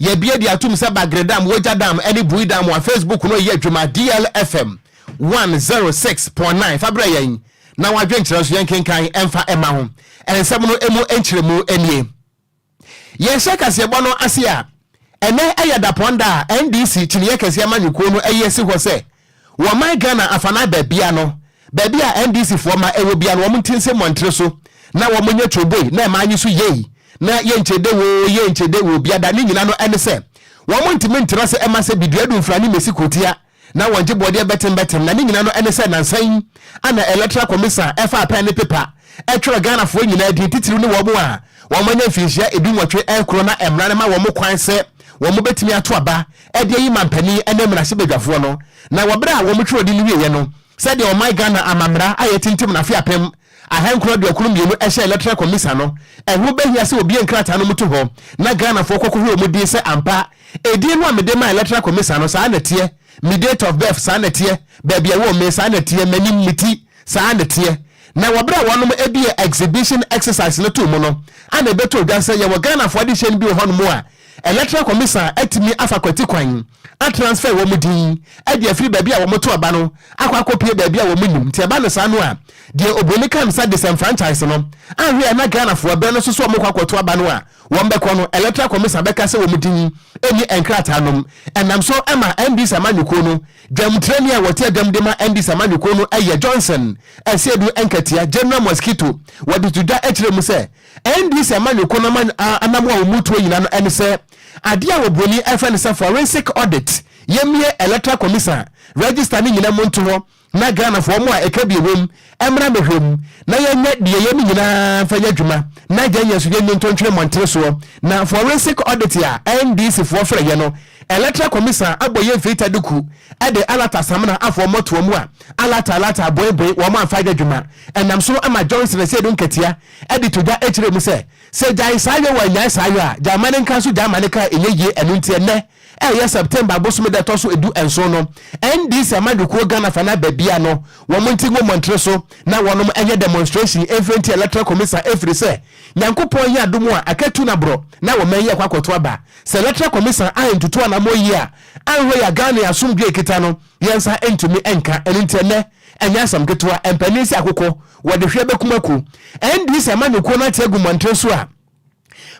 Yɛabue de atom sɛ Bagre Dam, Wogya Dam ne Bui Dam a Facebook no reyɛ adwuma DLFM 106.9 fa brɛ yɛn na w'adwenkyerɛ nso yɛnkenkan mfa mma ho. Nsɛm no mu nkyerɛmu nie. Yɛhyɛ kaseɛbɔ no ase a, ɛnnɛ yɛ Dapɔn da a NDC kyiniiɛ kɛseɛ amanyɔkuo no ayi asi hɔ sɛ Wɔ ɔman Ghana afanaa baabiara no, baabi a NDC foɔ ma ɛwɔ biara no wɔn nte nse mmɔntere so na wɔn nyɛ twooboi na ɛmaa nye so yei na yɛnkyede woo yɛnkyede woo bia da ne nyina no ɛne sɛ wɔn ntimi ntra ase ɛma sɛ bidua du mfra ne mesi kurotia na wɔn gye boɔdeɛ bɛtem bɛtem na ne nyina no ɛne sɛ nansa yi ana Electoral Commisan ɛfaa pɛn ne pepa ɛtwerɛ Ghana foɔ nyinaa din titiriw ne wɔn a wɔn anya mfinhyia edu nwɔtwe ɛnkoro na ɛmra no ma wɔn kwan sɛ wɔn bɛtimi ato aba ɛde ayi manpanin ne mmarahyɛbadwafoɔ no na wɔ berɛ a wɔn twerɛdi no wieɛ no sɛdeɛ ɔman Ghana amammara a yɛtintim no afe apem ahankron aduokron mmienu hyɛɛ Electoral Commisa no ɛho bɛhia sɛ wɔbue nkrataa no mu to hɔ na Ghanafoɔ kɔkɔhwɛ wɔn din sɛ ampa ɛdin no a mede maa Electoral Commisa no saa na ɛteɛ me date of birth saa na ɛteɛ baabi a ɛwɔ me saa na ɛteɛ m'anim me ti saa na ɛteɛ na wɔ berɛ a wɔnom bue exhibition exercise no too mu no ana ɛbɛtoo dwa sɛ yɛwɔ Ghanafoɔ adehyɛn bi wɔ hɔnom a Electoral Commission atumi afa kwati kwan atransfer wɔn din de afiri baabi a wɔto aba no akɔ akɔpue baabi a wɔn nnim nti ɛba no saa no a deɛ obroni ka no sa disenfranchise no ahwɛ a na Ghanafoɔ bɛn no so sɛ wɔkɔ akɔto aba no a wɔn bɛkɔ no Electoral Commission bɛka sɛ wɔn din nni nkrataa nom ɛnam so ɛma NDC amanyɔkuo no dwamtirani a wɔte adwam de ma NDC amanyɔkuo no ɛyɛ Johnson Asiedu Nkatia General Mosquito wɔde to dwa ɛkyerɛ mu sɛ Ɛnde sɛ ɛma yɛkɔ na ma anamoa a wɔretu agyina no ɛne sɛ adeɛ a wɔ broni ɛfrɛ no sɛ forensic audit, yɛmmue electoral commission register no nyina mu nto hɔ na Ghanafoɔ wɔn a ɛka bi ɛwom mmra mmɛhwɛ mu na yɛnyɛ deɛ yɛne nyinaa mfa nyɛ adwuma na agyae yɛn so yɛn nni ntɔntwene mmɔntene soɔ na forensic audit a NDC foɔ frɛ yɛ no electoral commission abɔ yɛn mfeita duku de alata samena afoɔ mmɔtoa mu a alata alata aboe boe wɔn amfa yɛ adwuma ɛnam so ma Johnson Asiedu Nketia de to dwa kyerɛɛ mu sɛ, Sɛ gyae saa yɔ wɔ nnyae saa yɔ a, gyae ma ne nka nso gyae ma ne ka a ɛnyɛ yie ɛno nti ɛnnɛ a ɛyɛ September bosome da ɛtɔ so edu nson no NDC amanyɔkuo Ghana fanaa baabiara no wɔn nte ngu mmɔntene so na wɔnom nyɛ demonstration mfiri nti Electoral Commisar ɛfiri sɛ Nyankopɔn yɛ adom a aka tu na borɔ na wɔ mɛn yi ɛkɔ akɔto aba sɛ Electoral Commisar a ntutu anamɔ yie a anhwɛ yɛ a Ghana yɛ asomdwoe kita no yɛn nsa ntumi nka ɛno nti ɛnnɛ Ɛnyɛ asɛm ketewa, mpanin sɛ akokɔ, wɔde hwe bɛkum akuo. Ɛnde sɛ amanyɔkuo no ate agu mmɔntene so a,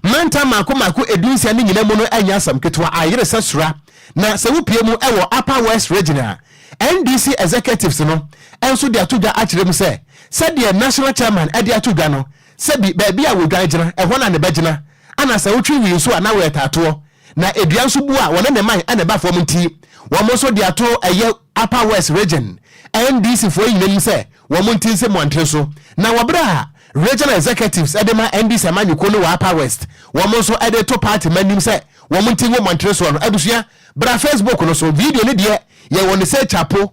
mantam mmaako mmaako dunsia no nyina mu no ɛnyɛ asɛm ketewa, ayere sɛ sora. Na sɛ wopue mu wɔ Upper West Region a, NDC executives no nso de ato dwa akyerɛ mu sɛ, sɛdeɛ National Chairman de ato dwa no, sɛ bi baabi a wɔdwan gyina, ɛhɔ na ne bɛgyina, ana sɛ wotwe wii nso a na wɔyɛ taatoɔ. Na edua nso bu a wɔne ne man na ɛba fam nti, wɔn nso de atoro ɛyɛ Upper West Region NDC foɔ nyina nim sɛ wɔn nti nse mmɔntene so. Na wɔ berɛ a Regional Executives de ma NDC amanyɔkuo no wɔ Upper West, wɔn nso de reto party mma nim sɛ wɔn nti ngu mmɔntene soɔ no, abusua, bra Facebook no so, video no deɛ yɛwɔ no sɛ kyapo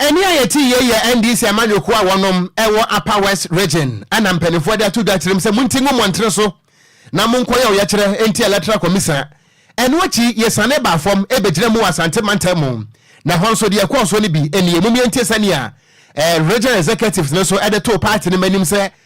Ɛnne a yɛtee yei yɛ NDC amanyɔkuo a wɔnom ɛwɔ Upper West Region ɛna mpaninfoɔ de ato dwa kyerɛm sɛ monti ngu mmɔntene so na monkɔ yɛ ɔyɛkyerɛ nti Electoral Commisa Ɛno akyi yɛsiane baa fam bɛgyina mu wɔ Asante mantam mu na ɛhɔ nso deɛ ɛkɔɔ soɔ no bi nie. Mom yɛntie sɛnea Regional Executives no nso de too party no mmanim sɛ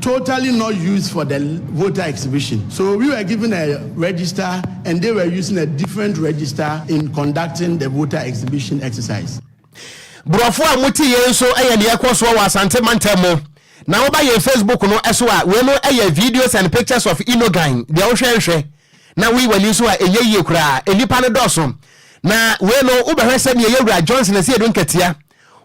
totally not used for the voter exhibition so we were given a register and they were using a different register in conducting the voter exhibition exercise. Borɔfo a mote yei nso yɛ nea ɛkɔ soɔ wɔ Asante mantam mu. Na woba yɛn Facebook no so a, wei no yɛ videos and pictures of Inogan. Deɛ wohwɛ nhwɛ na woyi w'ani nso a, ɛnyɛ yie koraa. Nnipa no dɔɔso. Na wei no, wobɛhwɛ sɛdeɛ yɛwura Johnson Asiedu Nketia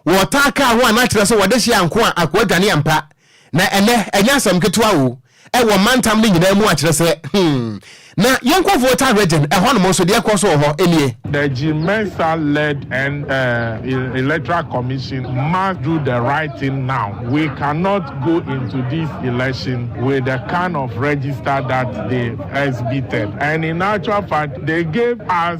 wɔtaa kaa ho a na kyerɛ sɛ wɔde hye anko a akoa dwane ampa. Na ɛnnɛ, ɛnyɛ asɛm ketewa o, ɛwɔ mantam no nyinaa mu a kyerɛ sɛ, hmm, na yɛnkɔ Volta Region, ɛhɔnom nso, deɛ ɛrekɔ so wɔ hɔ nie. The Jim Mensah-led Electoral Commission must do the right thing now. We cannot go into this election with the kind of register that they exhibited. And in actual fact, they gave us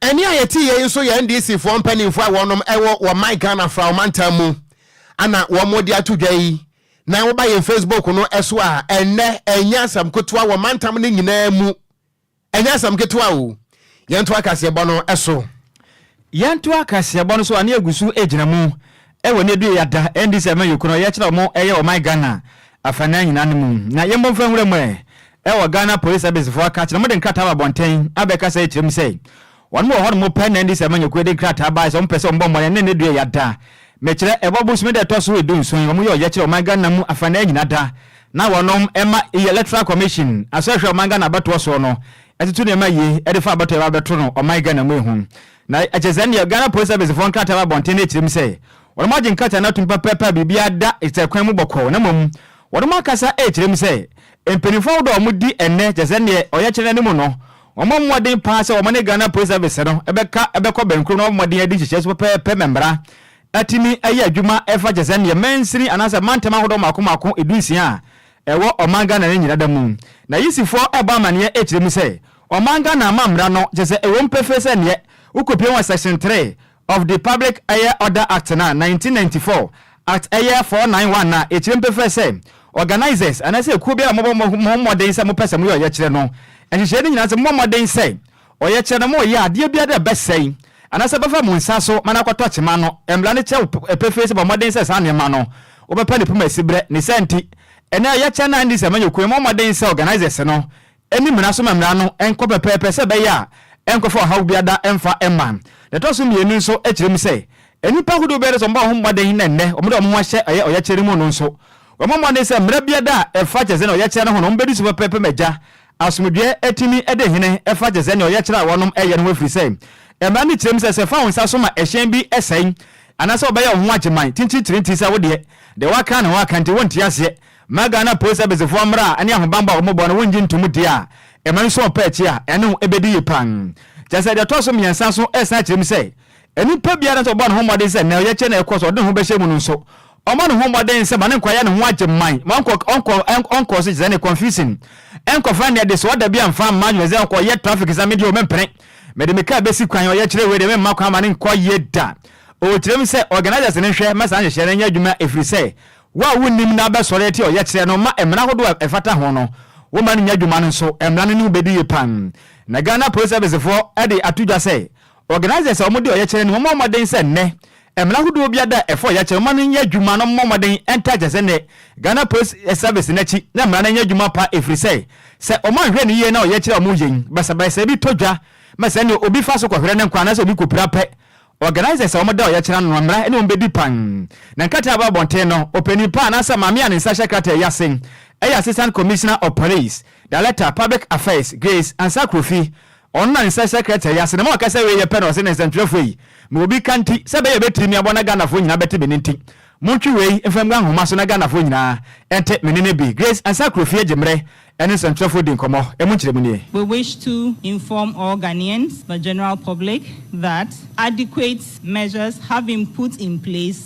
Ɛnne a yɛte yei nso yɛ NDC foɔ mpanimfoɔ a wɔnom ɛwɔ wɔ my Ghana fra ɔmantam mu ana wɔn de ato dwa yi na woba yɛn Facebook no ɛso a ɛnnɛ ɛnyɛ asɛm ketewa wɔ mantam no nyinaa mu ɛnyɛ asɛm ketewa o yɛnto akaseɛbɔ no ɛso Yɛntoa kaseɛbɔ no so a ne yɛgu so gyina mu wɔ ne yɛduru yi ada ɛndi sɛ ma yɛkunu a yɛkyerɛ ɔmo yɛ ɔman Ghana afanaa nyinaa no mu na yɛmmɔ mfa nwura mu ɛ wɔ Ghana Police Service foɔ aka akyerɛ ɔmo de nkrataa aba abɔnten abɛka sɛ ɛkyerɛ mu sɛ ɔnom wɔ hɔnom pɛ na ɛndi sɛ ma nyakuo de nkrataa baeɛ sɛ ɔmo pɛ sɛ ɔmo bɔ mmɔden ne ne duru yi ada mekyerɛ ɛbɔ bosome da ɛtɔ so du nson ɔmo yɛ ɔyɛkyerɛ ɔman Ghana mu afanaa nyinaa da na wɔnom ma Electoral Commission asɔhwɛ ɔman Ghana abatoɔ soɔ no ɛtoto nneɛma yie ɛde fa abatoɔ ɛba bɛto no ɔman Ghana mu ehu na ɛkyɛ sɛ ɛnneɛ Ghana Police Service foɔ nkrataa ba abɔnten na ɛkyerɛ mu sɛ wɔnom agye nkrataa no atom pɛpɛɛpɛ a biribiara da kyerɛkwan mu bɔkɔɔ na mmom wɔnom akasa ɛkyerɛ mu sɛ mpaninfoɔ ahodoɔ a wɔdi ɛnnɛ kyɛ sɛ ɛnneɛ ɔyɛkyerɛ no anim no wɔmmɔ mmɔden paa sɛ wɔne Ghana Police Service no ɛbɛka ɛbɛkɔ bɛnkurom na wɔabɔ mmɔden adi nhyehyɛɛ so pɛpɛɛpɛ ma mmara atumi ayɛ adwuma ɛfa kyɛ sɛ ɛnneɛ mansini anaasɛ mantam ahodoɔ mmaako mmaako dunsia a Ɛwɔ ɔman Ghana ne nyinada mu. N'ayisifoɔ ɛbɔ amaneɛ ɛkyerɛ mu sɛ ɔman Ghana ama mmra no kyɛ sɛ ɛwom pefee sɛ neɛ wokopie wɔ section three of the public ɛyɛ order act no a nineteen ninety four act ɛyɛ four nine one no a ɛkyerɛm pefee sɛ organisers anaasɛ ɛkuo biara a mobɔ moho mmɔden sɛ mopɛ sɛ moyɛ ɔyɛkyerɛ no nhyehyɛɛ no nyinaa sɛ mommɔ mmɔden sɛ Ɔyɛ kyerɛ no ma ɔyɛ adeɛ biara dɛ bɛsɛe anaasɛ bɛfa mo nsa so ma no akɔtɔ kyema no. Mmara no kyerɛ wo pefee sɛ bɔ mmɔden sɛ saa nneɛma no wobɛpa ne poma siberɛ. Ne saa nti, ɛnnɛ ɔyɛ kyerɛ no a ɛnde sɛ amanyɔkuo yi mmɔ mmɔden sɛ organisers no nni mmara so ma mmara no nkɔ pɛpɛɛpɛ sɛ ɛbɛyɛ a ɛnkɔfa ɔhaw biara da mfa mma. Deɛ ɛtɔ so mmienu nso kyerɛ mu sɛ nnipa ahodoɔ biara sɛ wɔbɔ wɔn ho mmɔden na ɛnnɛ wɔde wɔn ho ahyɛ ɛyɛ ɔyɛkyerɛ no mu no nso wɔmmɔ mmɔden sɛ mmara biara da a ɛfa kyerɛsɛn ɔyɛkyerɛ no ho no wɔbɛdi so pɛpɛɛpɛ ma agya Asomdwoeɛ tumi de hene fa gye sɛdeɛ ɔyɛ kyerɛ a wɔnom yɛ no ho ɛfiri sɛ mmara no kyerɛ mu sɛ sɛ fa wo nsa so ma ɛhyɛn bi sɛe anaasɛ wobɛyɛ wo ho agyeman tinkyintire nti sɛ wodeɛ deɛ woaka na woaka nti wonte aseɛ ma Ghana Police Service foɔ mmara ne ahobanbɔ a wɔbɔ no wongye ntom deɛ a ɛma nso ɔpɛ akyi a ɛne wo bɛdi yie paa kyerɛ sɛ deɛ ɛtɔ so mmiɛnsa so san kyerɛ mu sɛ Nnipa biara sɛ ɔbɔ ne ho mmɔden sɛ nea ɔyɛ kyɛn nea ɛkɔ so ɔde ne ho bɛhyɛ mu no nso, ɔmmɔ ne ho mmɔden sɛ ma ne nkwaya ne ho agye mman, ma ɔnkɔ ɔnkɔ ɔnkɔ so kyerɛ ne confusion, ɛnkɔfa ne adesoa da bi amfa mma adwene sɛ ɔkɔ ɔyɛ traffic sɛ me deɛ o mempene, mede me kaa bɛsi kwan, ɔyɛ kyerɛ wei deɛ memma kwan ma ne nkɔ yie da. O kyerɛm sɛ organisers no nhwɛ ma saa nhyehyɛe no nyɛ adwuma ɛfiri sɛ wo a wonnim na abɛsɔre atia ɔyɛ kyerɛ no ma mmara ahodoɔ a ɛfata ho no womma no nyɛ adwuma no nso mmara no ne wo bɛdi yie paa na Ghana Police Service foɔ de ato dwa sɛ Organisers a wɔde ɔyɛkyerɛ no mmɔ mmɔden sɛ nnɛ mmara hodoɔ biara da a ɛfa ɔyɛkyerɛ ho no nyɛ adwuma no mmɔ mmɔden ntaa kyerɛ sɛ nnɛ Ghana Police Service no akyi na mmara no nyɛ adwuma pa ɛfiri sɛ sɛ wɔanhwɛ no yie na ɔyɛkyerɛ a wɔyɛ yi basabasa bi tɔ dwa ma sɛnea obi fa so kɔhwerɛ ne nkwa anaasɛ obi kɔpira pɛ Organisers a wɔda ɔyɛkyerɛ ano no mmara ne wɔn bɛdi pan na nkrataa ba abɔnten no ɔpanin pa anaasɛ maame a ne nsa hyɛ krataa yi ase ɛyɛ Assistant Commissioner of Police Director Public Affairs Grace Ansah Krofi Ɔnna nsɛ sɛkrɛtɛɛ yi ase na ma ɔkasa wiei yɛ pɛ na ɔse, Nɛnsɛntwerɛfoɔ yi, mewɔ bi ka nti, sɛ bɛyɛ bɛtiri me abɔ na Ghanafoɔ nyinaa bɛte me nne nti, montwe wei mfa ngu ahoma so na Ghanafoɔ nyinaa nte me nne no bi. Grace Ansah Kurofie gye mmerɛ ne nsɛntwerɛfoɔ di nkɔmmɔ. Ɛmu nkyerɛmu nie. We wish to inform all Ghanaians, the general public, that adequate measures have been put in place,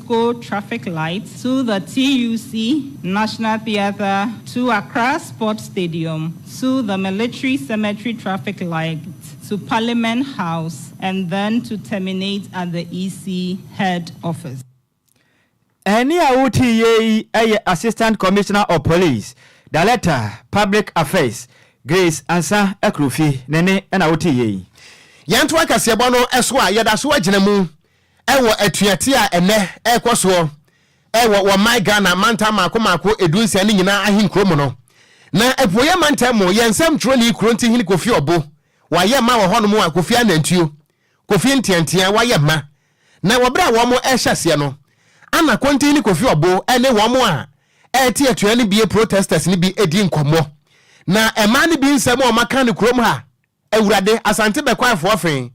Go Traffic Light to the TUC National Theatre to Accra Sports Stadium to the Military Cemetery Traffic Light to Parliament House and then to terminate at the EC Head Office. Ɛnne a wotii yɛ yi yɛ Assistant Commissioner of Police, Director, Public Affairs, Grace Ansah Akurofi ne nne na wotii yɛ yi. Yɛntoa kaseɛbɔ no so a yɛda so agyina mu Wɔ atuateɛ a ɛnnɛ ɛrekɔ soɔ wɔ wɔ man Ghana mantam mmaako mmaako du nsia no nyinaa ahenkuro mu no, na Apueɛ mantam mu yɛn nsɛm twerɛni Kurontihene Kofi Ɔbo wayɛ mma wɔ hɔnom a Kofi Anantuo, Kofi Nteantea wayɛ mma. Na wɔ berɛ a wɔn rehyɛ aseɛ no, ana Kurontihene Kofi Ɔbo ne wɔn a ɛrete atua no bi protesters no bi redi nkɔmmɔ. Na mmaa no bi nsɛm a wɔaka no kurom ha Awurade, Asante Bɛkwaefoɔ fe,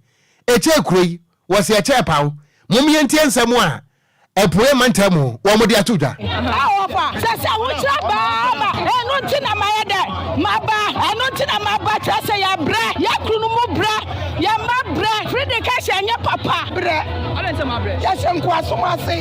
Ɛkyɛɛ kuro yi, wɔ se ɛkyɛɛ paw, Mom yɛntie nsɛm a Apueɛ mantam mu wɔn de ato dwa. Ahoɔfa, Sɛ se ahokyerɛ baa ma, Eno nti na mayɛ dɛ, maba, Eno nti na maba, Kyerɛ se yɛbrɛ, yɛn kununom mu brɛ, Yɛn mma brɛ, Fride ka se ɛnyɛ papa, Brɛ, adɛn nti na mabrɛ, Yɛhyɛ nkoasom ase,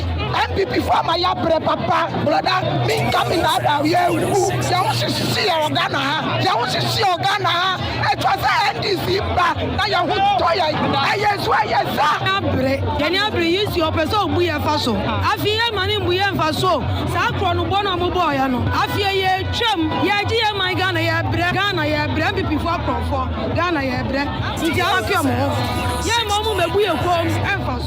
NPP foɔ ama yɛabrɛ papa, Brɔda, me incoming, Ada, yɛrewu, Yɛn ho hyehye yɛn wɔ Ghana ha, Yɛn ho hyehye yɛn wɔ Ghana ha. Ɛtwa sɛ NDC ba na yɛn ho tɔ yɛn. Ɛyɛ nso ɛyɛ sa. Abre, yɛne abre yi si ɔpɛ sɛ ɔbu yɛn fa so. Afei yɛn ma no mbu yɛn mfa so o. Saa korɔ no bɔ no a mobɔɔ yɛn no. Afei yɛretwam. Yɛregye yɛn man Ghana yɛrebrɛ. Ghana yɛrebrɛ NPP foɔ akorɔmfoɔ. Ghana yɛrebrɛ. Nti afeɛ mo ho. Yɛn ma ɔmo mɛbu yɛn kɔm ɛmfa so.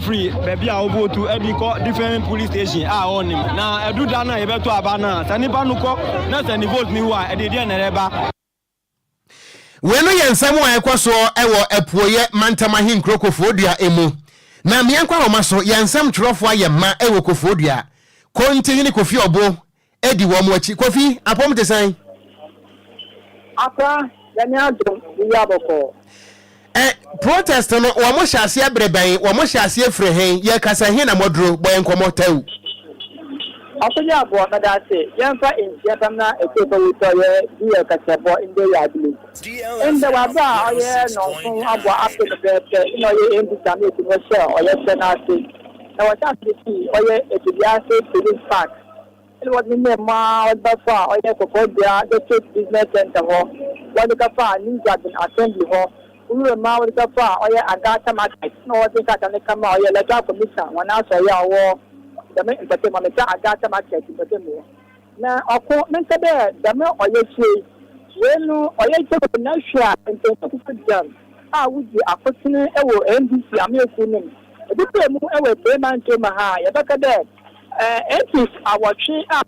firi baabi a ɔbɔ tu de kɔ different police station a ɔnim na ɛdu da no a yɛbɛto aba no a sɛ nipa no kɔ na sɛ ne vote ne wu a ɛde deɛ na ɛreba. Wei no yɛ nsɛm a ɛkɔ soɔ wɔ apueɛ mantam ahenkuro Kofoɔdua mu. Na Miankwahoma so, yɛn nsɛm twerɛfoɔ ayɛ mma wɔ Kofoɔdua. Kontihene Kofi Ɔbo Adi wɔn akyi. Kofi, apɔm te sɛn? Akwa, Nyame adom, yewia bɔkɔɔ. Ɛ, protest no, wɔn hyɛ aseɛ bere bɛn? Wɔn hyɛ aseɛ firi hen? Yɛ kasa he na moaduro? Bɔ yɛn nkɔmmɔ, Tau. Ɔfo yɛ aboɔ, mɛda ase. Yɛmfa nkyia pam na ɛtɔ fa wu tɔ yɛ di yɛ kasa bɔ ndɛ yɛ adile. Ndɛ w'aba a ɔyɛ nɔnko abɔ ape no pɛɛpɛ na ɔyɛ ɛmbi same ɛti no hyɛ ɔyɛ sɛ n'ase na wɔhyɛ ase firi ɔyɛ ɛtɛbi ase police park. Ɛnna wɔde ne nneɛma a wɔde ba faa ɔyɛ kɔkɔɔ dua District Business Centre hɔ, wɔde ka faa New Dragon Assembly hɔ, Wuram a wɔde ka faa ɔyɛ Agata Market, ɛnna wɔde nkrataa no ka maa ɔyɛ Electoral Commission hɔn asɔɛe a ɔwɔ dɛm mpɔtam hɔ, Mr. Agata Market mpɔtam hɔ. Na ɔko menka dɛ dɛm ɔyɛkyerɛ yi, wei no ɔyɛ Jacob Nahwe a Mpanyimfo Kuku Gyam a wodzi akotsen wɔ NDC amayɛkuw no mu, ebɛpaa mu wɔ Ebuei Mantɔw mu ha a, yɛbɛka dɛ Atheist awɔtwe a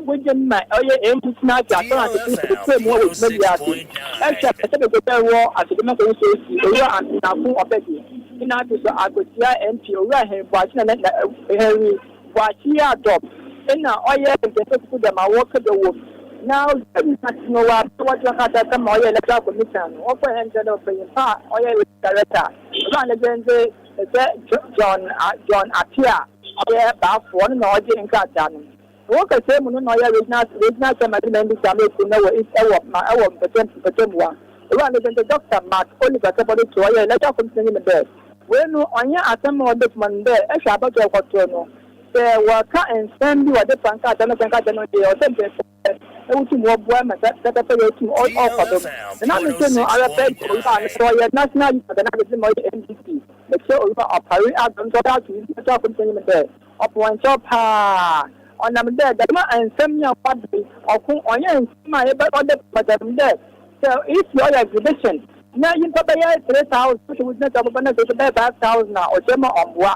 wogye no na ɔyɛ atheist no ate asɛm a nketenkete mmoa wɔ dwuma bi ase rehwɛ sɛ bɛbɛdan wɔ asɛde no kɔyɛ sɛsi. Owura Antenako Ɔpɛdi ne n'ato so akotua MP Owura Henry Boakye na na Henry Boakye a Dɔb na ɔyɛ Nketenkete Kuku Dɛm a wɔka dɛ wom na ɔgya ne nan ase no wɔ abe a wɔde ɔno ate asɛm ma ɔyɛ Electoral Commission no wɔkɔ hɛn dɛ no ɔpanyin pa a ɔyɛ Electoral Director Owura Alexande Te sɛ John John Attia a ɔyɛ baafo, ɔno na ɔgye nkrataa no. Ɛwɔ kɛsɛɛ mu no na ɔyɛ Regional Regional Chairman de Nandi Same Kurom no wɔ East ɛwɔ ma ɛwɔ mpɛtam mpɛtamua. Owura no dzin de Dɔkta Mark Oliver Kɛbɔdotoo ɔyɛ Electoral Commission n'enyim dɛ. Wei no ɔnnyɛ asɛm a ɔda edwuma no mu dɛ ehwɛ abatow a ɔkɔtow no. Sɛ wɔreka nsɛm bi wɔdze fa nkrataa no sɛ nkrataa no dze ɔsɛ mpanyinfo. wotum wɔboa ma saa pɛpɛpɛyɛ yi tum ɔkɔ do. Nna metse no ara pɛ dɛ Owura a na ɔyɛ National Youth Organizing ma ɔyɛ NDC, Meserɛ Owura Opare Addo nkyɛ ɔbɛyɛ ato Nsɛm Kyerɛwfo no panyin mu dɛ, ɔpɛ hɔn kyɛw paa. Ɔnam dɛ dɛm nsɛm yi a wɔaba yi, ɔko ɔnnyɛ nsɛm a yɛbɛ ɔda bi ma dɛm dɛ sɛ if yɛɔyɛ exhibition na nyimpa bɛyɛ three thousand na sɛ wogyina dɛ wɔbɛba na sɛ bi bɛyɛ five thousand a ɔkyerɛ ma ɔmmboa.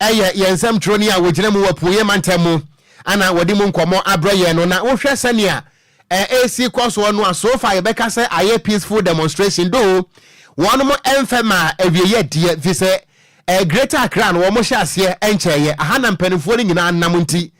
Ɛyɛ yɛn nsɛmtwerɛni a wɔgyina mu wɔ Apueeɛ mantam mu na wɔde mu nkɔmmɔ abrɛ yɛn no, na wohwɛ sɛnea ɛresi kɔ soɔ no a, so far yɛbɛka sɛ ayɛ peaceful demonstration, though wɔnom mfɛ maa awieeɛ deɛ, ɛfiri sɛ Greater Accra no wɔn hyɛ aseɛ nkyɛeɛ, aha na mpanimfoɔ no nyinaa nam nti,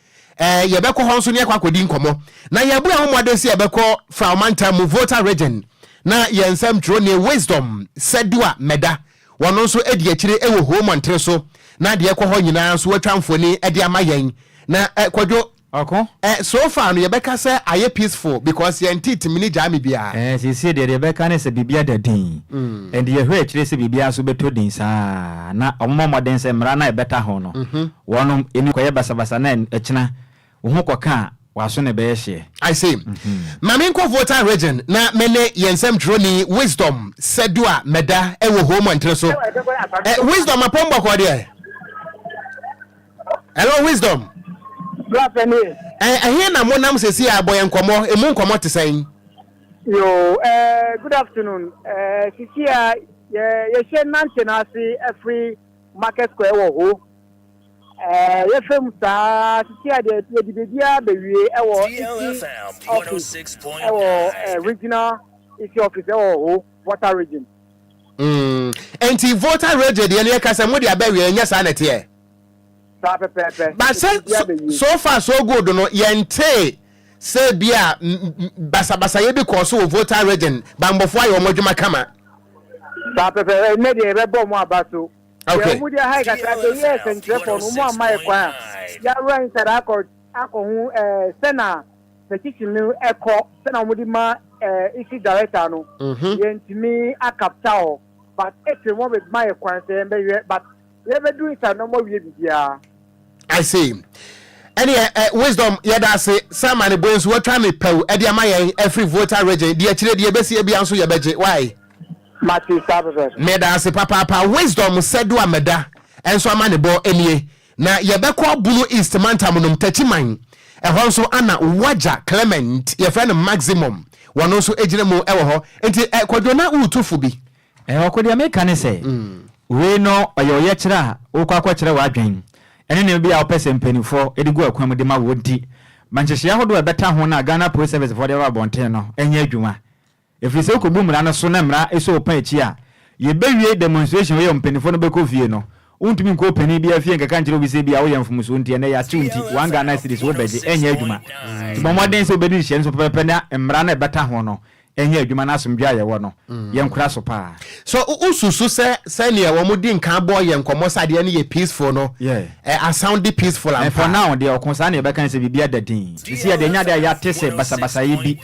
yɛbɛkɔ hɔ nso na yɛakɔ akɔdi nkɔmmɔ. Na yɛabu yɛn ho mmɔden sɛ yɛbɛkɔ Frao mantam mu, Volta Region, na yɛn nsɛmtwerɛni Wisdom Sedua Meda Wɔn nso adi akyire wɔ home ntere so na deɛ ɛkɔ hɔ nyinaa nso wɔatwa mfoni de ama yɛn na kwadwo ɔko eh so far no yɛbɛka sɛ ayɛ peaceful because yɛntee timini gyaa me biara. Eh seesei deɛ deɛ yɛbɛka ne sɛ biribi ada din and yɛhwɛ akyire sɛ biribiara nso bɛtɔ din saa na wɔmmɔ mmɔden sɛ mmara no a ɛbɛta ho no wɔnom ɛni kɔyɛ basabasa na ɛkyena Wo ho kɔka a, w'aso na ɛbɛyɛ hyeɛ. I see. Ma me nkurɔfoɔ taa region na me ne yɛn nsɛmtwerɛni Wisdom Sedua mɛda wɔ hoo mu ntere so. Eh, Wisdom apɔm bɔkɔɔ deɛ. Hello Wisdom. Bra pɛ nie. Eh, ɛhe na monam sɛsi a bɔ yɛn nkɔmmɔ, emu nkɔmmɔ te sɛn? Yo, eh, good afternoon. Eh, sisi a yɛ yɛhyɛ nante n'ase ɛfiri Market Square wɔ hoo. Yɛhwɛ mu saa ara seesei a deɛ yɛde biribiara bɛwie wɔ Isi office wɔ regional Isi office wɔ Ho, Volta region. Mm, nti Volta region deɛ no yɛka sɛ mo deɛ abɛwie, ɛnyɛ saa na ɛteɛ? Saa pɛpɛɛpɛ, but sɛ so far so good no yɛntee sɛ bi a basabasayɛ bi kɔɔ so wɔ Volta region, banbɔfoɔ ayɛ wɔn adwuma kama. Saa pɛpɛɛpɛ, ɛnnɛ deɛ yɛbɛbɔ wɔn aba so. Okay. Deɛ wɔn deɛ ha kakra sɛ yɛ sɛnkyerɛfoɔ no wɔn ama yɛ kwan a yɛawura inside akɔ akɔ ho ɛɛ sɛna petition no ɛkɔ sɛna wɔn de ma ɛɛ isi director no mhm. yɛntumi akapta hɔ but ɛtiri wɔn bɛ ma yɛ kwan sɛ yɛn bɛhwɛ but yɛbɛdu inside na wɔn awie bibiara. I see. Ɛneɛ ɛ eh, Wisdom yɛda ase sɛ ama ne buen so watwa ne pɛw de ama yɛn afiri Volta region deɛ akyire deɛ ɛbɛsie bia nso yɛbɛgye why. Mate saa pɛpɛɛpɛ. Meda ase papaapa Wisdom sɛ do a mɛda nso ama ne bɔ nie na yɛbɛkɔ Bono East mantam nom Takyiman ɛhɔ nso ana wagya Clement yɛfrɛ no Maximum wɔno nso gyina mu wɔ hɔ nti ɛ Kwadwo na woretu fo bi Ɛhɔ ko deɛ meka ne sɛ, wei no ɔyɛ ɔyɛkyerɛ a wokɔ akɔkyerɛ w'adwen ɛne nneɛma bi a wopɛ sɛ mpaninfoɔ de gu akwan mu de ma wo nti, ma nhyehyɛeɛ ahodoɔ a ɛbɛta ho no a Ghana Police Service foɔ de aba abɔnten no nyɛ adwuma. Ɛfiri sɛ wokɔbu mmara no so na mmara so wo pɔn akyi a, yɛbɛwie demonstration wei a mpaninfoɔ no bɛkɔ fie no, wontumi nkɔ ɔpanin biara fie nkɛka nkyerɛ obi sɛ ebia woyɛ mfomsoɔ nti ɛnnɛ yɛate wo nti one Ghana cedis wobɛgye ɛnyɛ adwuma. Nti bɔ mmɔden sɛ wobɛdi nhyehyɛeɛ no so pɛpɛpɛ na mmara no a ɛbɛta ho no Ɛnyɛ adwuma ne asomdwoe a yɛwɔ no, yɛnkora so paa. So wususu sɛ sɛnea wɔde nka bɔ yɛn nkɔmmɔ sɛ adeɛ no yɛ peaceful no, asoundi peaceful ampa? For now deɛ, ɔko saa na yɛbɛka ne sɛ biribiara da dinn. Seesei yɛde anya ade a yɛate sɛ basabasayɛ bi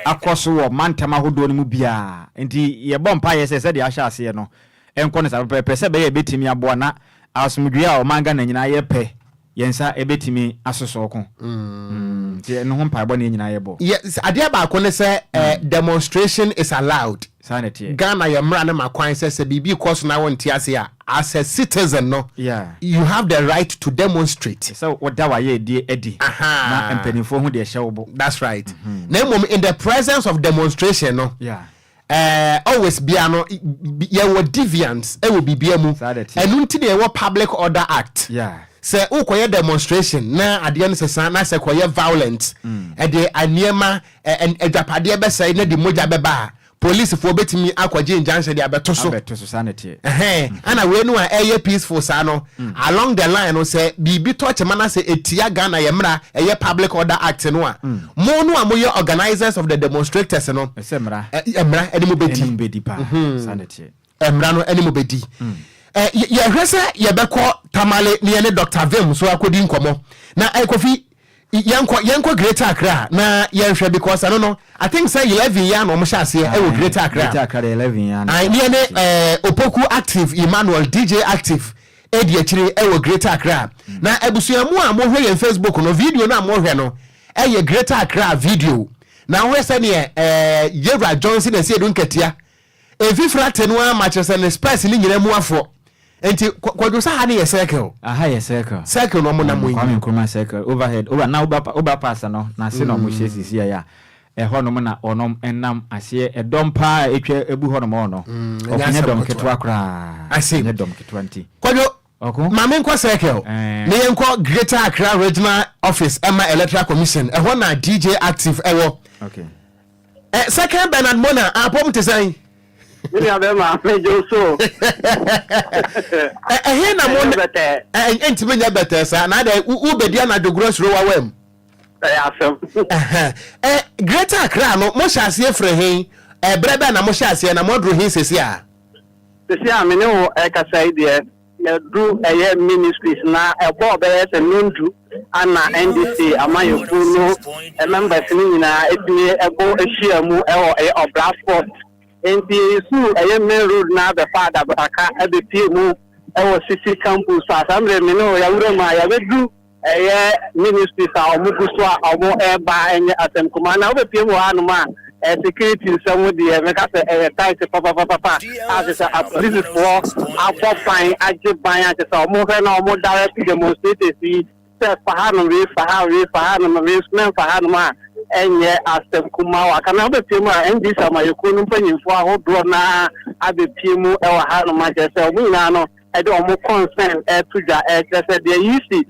akɔ so wɔ mantam ahodoɔ no mu biara. Enti yɛbɔ mpaeɛ sɛ sɛdeɛ ahyɛ aseɛ no, ɛnkɔ ne saa pɛpɛɛpɛ sɛ ɛbɛyɛ a ɛbɛtumi aboa na asomdwoeɛ a ɔman Ghana nyinaa yɛpɛ yɛn nsa bɛtumi asosɔ ko. Nti ɛno ho mpaebɔ na yɛn nyinaa yɛbɔ. Yɛ, adeɛ baako ne sɛ eh, demonstration is allowed. Saa na ɛteɛ. Ghana yɛn mmara no ma kwan sɛ sɛ biribi rekɔ so na wonte ase a, as a citizen no, Yeah. you have the right to demonstrate. Ɛsɛ sɛ woda w'ayɛyɛdeɛ adi Ahaa. na mpanimfoɔ hu deɛ ɛhyɛ wo bo. That's right. Na mmom in the presence of demonstration no, Yeah. Eh always bia no yɛwɔ deviants wɔ biribia mu ɛno nti na yɛwɔ public order act sɛ wokɔyɛ demonstration na adeɛ no sesa na sɛ kɔyɛ violent ɛde mm. nneɛma adwapadeɛ bɛsɛe na de mogya bɛba a policefoɔ bɛtumi akɔgye injunction de abɛto so mm. ɛna wei no a ɛyɛ peaceful saa no mm. along the line no sɛ biribi tɔ kyema no sɛ ɛtia ghana yɛ mmara ɛyɛ public order act no a mo no a moyɛ organizers of the demonstrators no Sɛ mmara. Ɛ, mmara ne mo bɛdi. Ne mo bɛdi paa. Mm-hmm. Saa na ɛteɛ. Mmara no ne mo bɛdi. Mm. Ɛ, yɛhwɛ sɛ yɛbɛkɔ Tamale ne yɛne Dr. Vim so akɔdi nkɔmmɔ. Na ɛ, Kofi, yɛnkɔ yɛnkɔ Greater Accra na yɛnhwɛ because ɛno no I think sɛ eleven yɛ na wɔn hyɛ aseɛ ɛwɔ ah, Greater Accra. Greater Accra de eleven yɛ na. Ne yɛne ɛɛ Opoku Active Emmanuel DJ Active ɛdi akyire ɛwɔ Greater Accra. Mm. Na abusua mu a mohwɛ yɛn Facebook no video no a mohwɛ no. Ɛyɛ Greater Accra video na wohwɛ sɛdeɛ ɛɛ Yewura Johnson Asiedu Nkatia mfifiri ate no ara ma kyerɛ sɛ ne spurs no nyinaa mu afoɔ. Nti Kwadwo sɛ ha no yɛ circle? Aha yɛ circle. Circle na wɔnam yi. Kwame Nkrumah circle overhead over na over overpass no n'ase na wɔhyɛ sisi a ɛhɔ nom na wɔnom nam aseɛ ɛdɔm paa a ɛtwa ɛbu hɔ nom hɔ no ɔfonyɛ dɔm ketewa koraa ɛnyɛ dɔm ketewa nti. Kwadwo Ma me nkɔ circle na yɛn kɔ Greater Accra Regional Office ɛma Electoral Commission ɛhɔ na DJ Active ɛwɔ. Okay. Ɛ second Bernard Mona apɔm te sɛn? Me nua bɛma me gye so. Ɛ ɛhe na mo ɛ ntumi nyɛ bɛtɛ saa na adɛ wo bɛdi anadwo goro suro wawa mu. Ɛyɛ asɛm. Ɛ Greater Accra no mo hyɛ aseɛ firi he? Ɛbrɛ bɛn na mo hyɛ aseɛ na mo aduru he sesi a? Sisi a me ne wo rekasa yi deɛ, yɛadu ɛyɛ ministries na ɛbɔɔ bɛyɛ sɛ nnɔndu ana NDC amanyɔkuo no members no nyinaa atumi bɔ ahyia mu wɔ ɛyɛ Ɔbra Sports. Enti yɛresuu ɛyɛ main road no ara bɛfaa Adabotaka abɛpie mu wɔ Sisi campus a saa mmerɛ me ne wo yɛawura mu a yɛabɛdu Ɛyɛ ministries a ɔmo gu so a ɔmo ɛɛba ɛnyɛ asɛm kumaa na wobɛpie mu wɔ ha nom a security nsɛm deɛ mɛka sɛ ɛyɛ tight papapapapa a kyɛ sɛ apolisifoɔ abɔ ban agye ban a kyɛ sɛ ɔmo hwɛ na ɔmo direct demonstrators yi sɛ fa ha nom wei fa ha wei fa ha nom wei nso mɛmfa ha nom a ɛnyɛ asɛm kumaa wɔ aka na wobɛpie mu a NDC amayɛkuo no mpanyinfoɔ ahodoɔ no ara abɛpie mu ɛwɔ ha nom a kyɛ sɛ ɔmo nyinaa no de wɔn kɔnsɛn reto dwa rekyerɛ sɛ deɛ Yeasi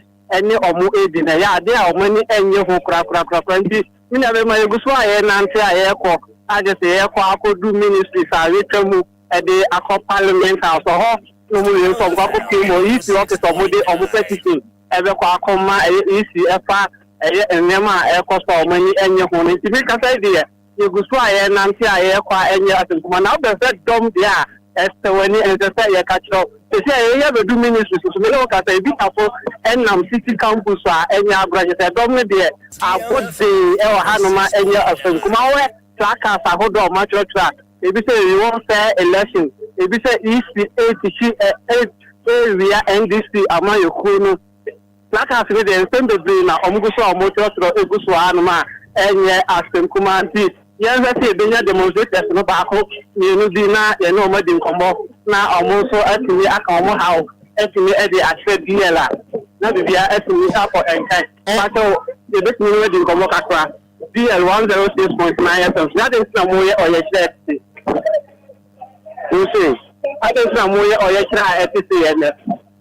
ne wɔn redi no, ɛyɛ adeɛ a wɔn ani nnye ho korakorakorakora. Nti, me nuabarima, yɛgu so a yɛrenante a yɛrekɔ, a gye sɛ yɛrekɔ akɔdu ministries a yɛatwa mu de akɔ Parliament House. Ɛhɔ na wɔwie nso a, wɔkɔ akɔpue mu wɔ Yeasi office a wɔde wɔn petition bɛkɔ akɔma ɛyɛ Yeasi ɛfa ɛyɛ nneɛma a ɛrekɔ so a wɔn ani nnye ho no. Nti, me kasa yi deɛ, Yegu so a yɛrenante a yɛrekɔ a ɛnyɛ ase nko ara na wobɛhwɛ sɛ dɔm deɛ a ɛsɛ w'ani ɛnsɛ sɛ yɛka kyerɛ wo sɛsi a yɛyɛ bɛdu ministry so so mene wo kasa ebi tafo ɛnam city campus so a ɛnyɛ agorɔ kyerɛ sɛ dɔm no deɛ abɔ dee ɛwɔ hanom a ɛnyɛ ɔsɛ nko ara wohwɛ placards ahodoɔ a wɔatwerɛtwerɛ a ebi sɛ we won fair election ebi sɛ EC8 hyi ɛ ɛ ɛ wia NDC ama yɛ kuo no. Placards no deɛ nsɛm bebree na wɔn gu so a wɔn twerɛtwerɛ gu so aa nom a ɛnyɛ asɛm kumaa nti yɛn hwɛ sɛ yɛbɛnya demonstrators no baako mmienu bi na yɛne wɔn adi nkɔmmɔ na wɔn nso atumi aka wɔn haw atumi de akyerɛ BL a na biribiara atumi akɔ nkan mpakyɛ wo yɛbɛtumi ne wɔn adi nkɔmmɔ kakra BL 106.9 FM na adɛn nti na moyɛ ɔyɛkyerɛ ɛte wo sei adɛn nti na moyɛ ɔyɛkyerɛ a ɛte sei ɛnɛ.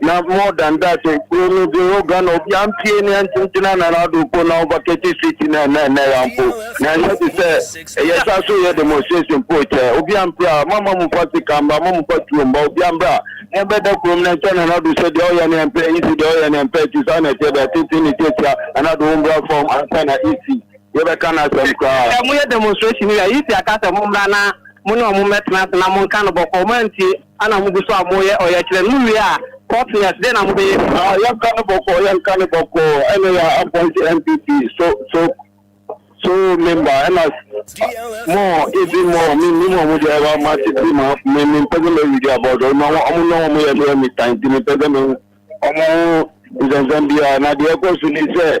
Na more than that, eh, kuro no de wɔ Ghana obi ampie ne antintina na n'ado po na ɔba Kete Street na ɛnɛ ɛnɛ ya mpo na ɛnyɛ te sɛ ɛyɛ sa so yɛ demonstration po kyɛ obi ampira mama mu fa sika mba mama mu fa tuo mba obi ambra na ɛbɛda kurom na nkyɛn na n'ado sɛ deɛ ɔyɛ ne ɛmpɛ isi deɛ ɔyɛ ne ɛmpɛ ti saa na ɛteɛ deɛ tete ne tiatia na n'ado wɔn bra fam ansa na isi yɛbɛka n'asɛm koraa. Sɛ mo yɛ demonstration yi a isi aka sɛ mo mbra na mo ne ɔmo mmɛtena ase na mo nka no bɔkɔɔ mo antie. Ana mo gu so a mo yɛ ɔyɛkyerɛ no mo wie a Courtneyas dɛn na mo bɛyɛ bi. Ah yɛnka no bɔkɔɔ yɛnka no bɔkɔɔ ɛna yɛ appoint NPP so so so member ɛna more even more me nim ɔmo deɛ ɛba ma te bi ma me me mpɛ sɛ mɛ read about ɔmo na ɔmo na ɔmo yɛ no yɛ me tan ti me mpɛ sɛ me hu ɔmo ho nsɛnsɛm biara na deɛ ɛkɔ so ni sɛ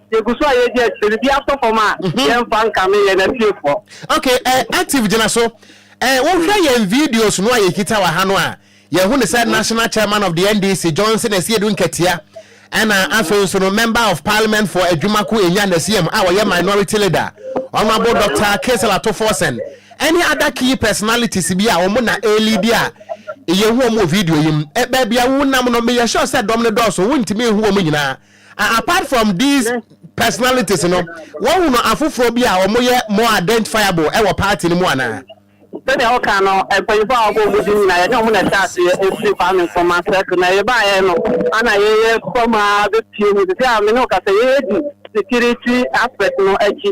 yɛgu so a yɛdi akyire no bi atɔ fam a mhm. yɛmfa nkame yɛn afiefoɔ ok eh, active gyina so eh, wohwɛ mm. yɛn videos no a yɛkita wɔ ha no a yɛhu ne sɛ mm. national chairman of the ndc johnson asiedu nkatia ɛna mm. afei nso no member of parliament for adwumako enya nasiam a wɔyɛ minority leader honorable dr kesela tofosen ɛne other key personalities bi a wɔn na ɛrelidi a yɛhu wɔn wɔ video yi mu ɛbɛɛbi a wonam no meyɛ sure sɛ dɔm no dɔɔso wontumi nhu wɔn nyinaa Apart from these personalities no, wɔhunu afoforɔ bi a wɔyɛ more identifiable wɔ party no mu anaa? Sɛdeɛ woka no, mpanyinfoɔ a wɔbɔ wɔn din nyinaa yɛne wɔn na ɛhyɛ aseɛ ɛfiri Kwame Nkrumah circle na yɛbaeɛ no ana yɛyɛ fam ara bɛpue mu, seisei a mene wo kasa yi yɛdi security aspect no akyi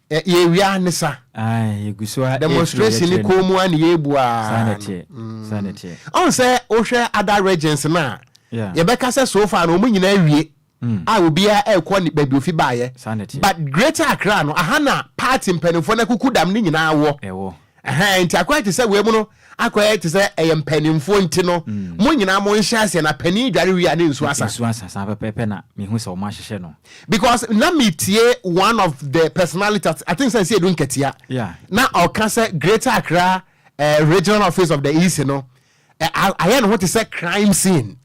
Ɛ yɛawia ne sa. Ae, yɛgu so ara rekyerɛ no. Demonstration no kɔn mu ara na yɛrebu ara. Saa na ɛteɛ, saa na ɛteɛ. Mm. Ɔn sɛ wohwɛ other regions no a, Yeah. yɛbɛka sɛ so far no wɔn nyinaa awie a obiara rekɔ ne baabi ofi baeɛ. Saa na ɛteɛ. But Greater Accra no, aha na party mpanimfoɔ no akukudam no nyinaa wɔ. Ɛwɔ. Ɛhɛn, nti akɔyɛ te sɛ wei mu no akɔyɛ te sɛ ɛyɛ mpaninfoɔ nti no, mm. mo nyinaa mo nhyɛ aseɛ na panin dware wie a ne nsuo asa. Nsuo asa saa pɛpɛpɛ na mehu sɛ wɔn ahyehyɛ no. Because na me tie one of the personality I think sɛ nsi edu nkatia. Yeah. Na ɔka sɛ Greater Accra uh, regional office of the EC no ayɛ ne ho te sɛ crime scene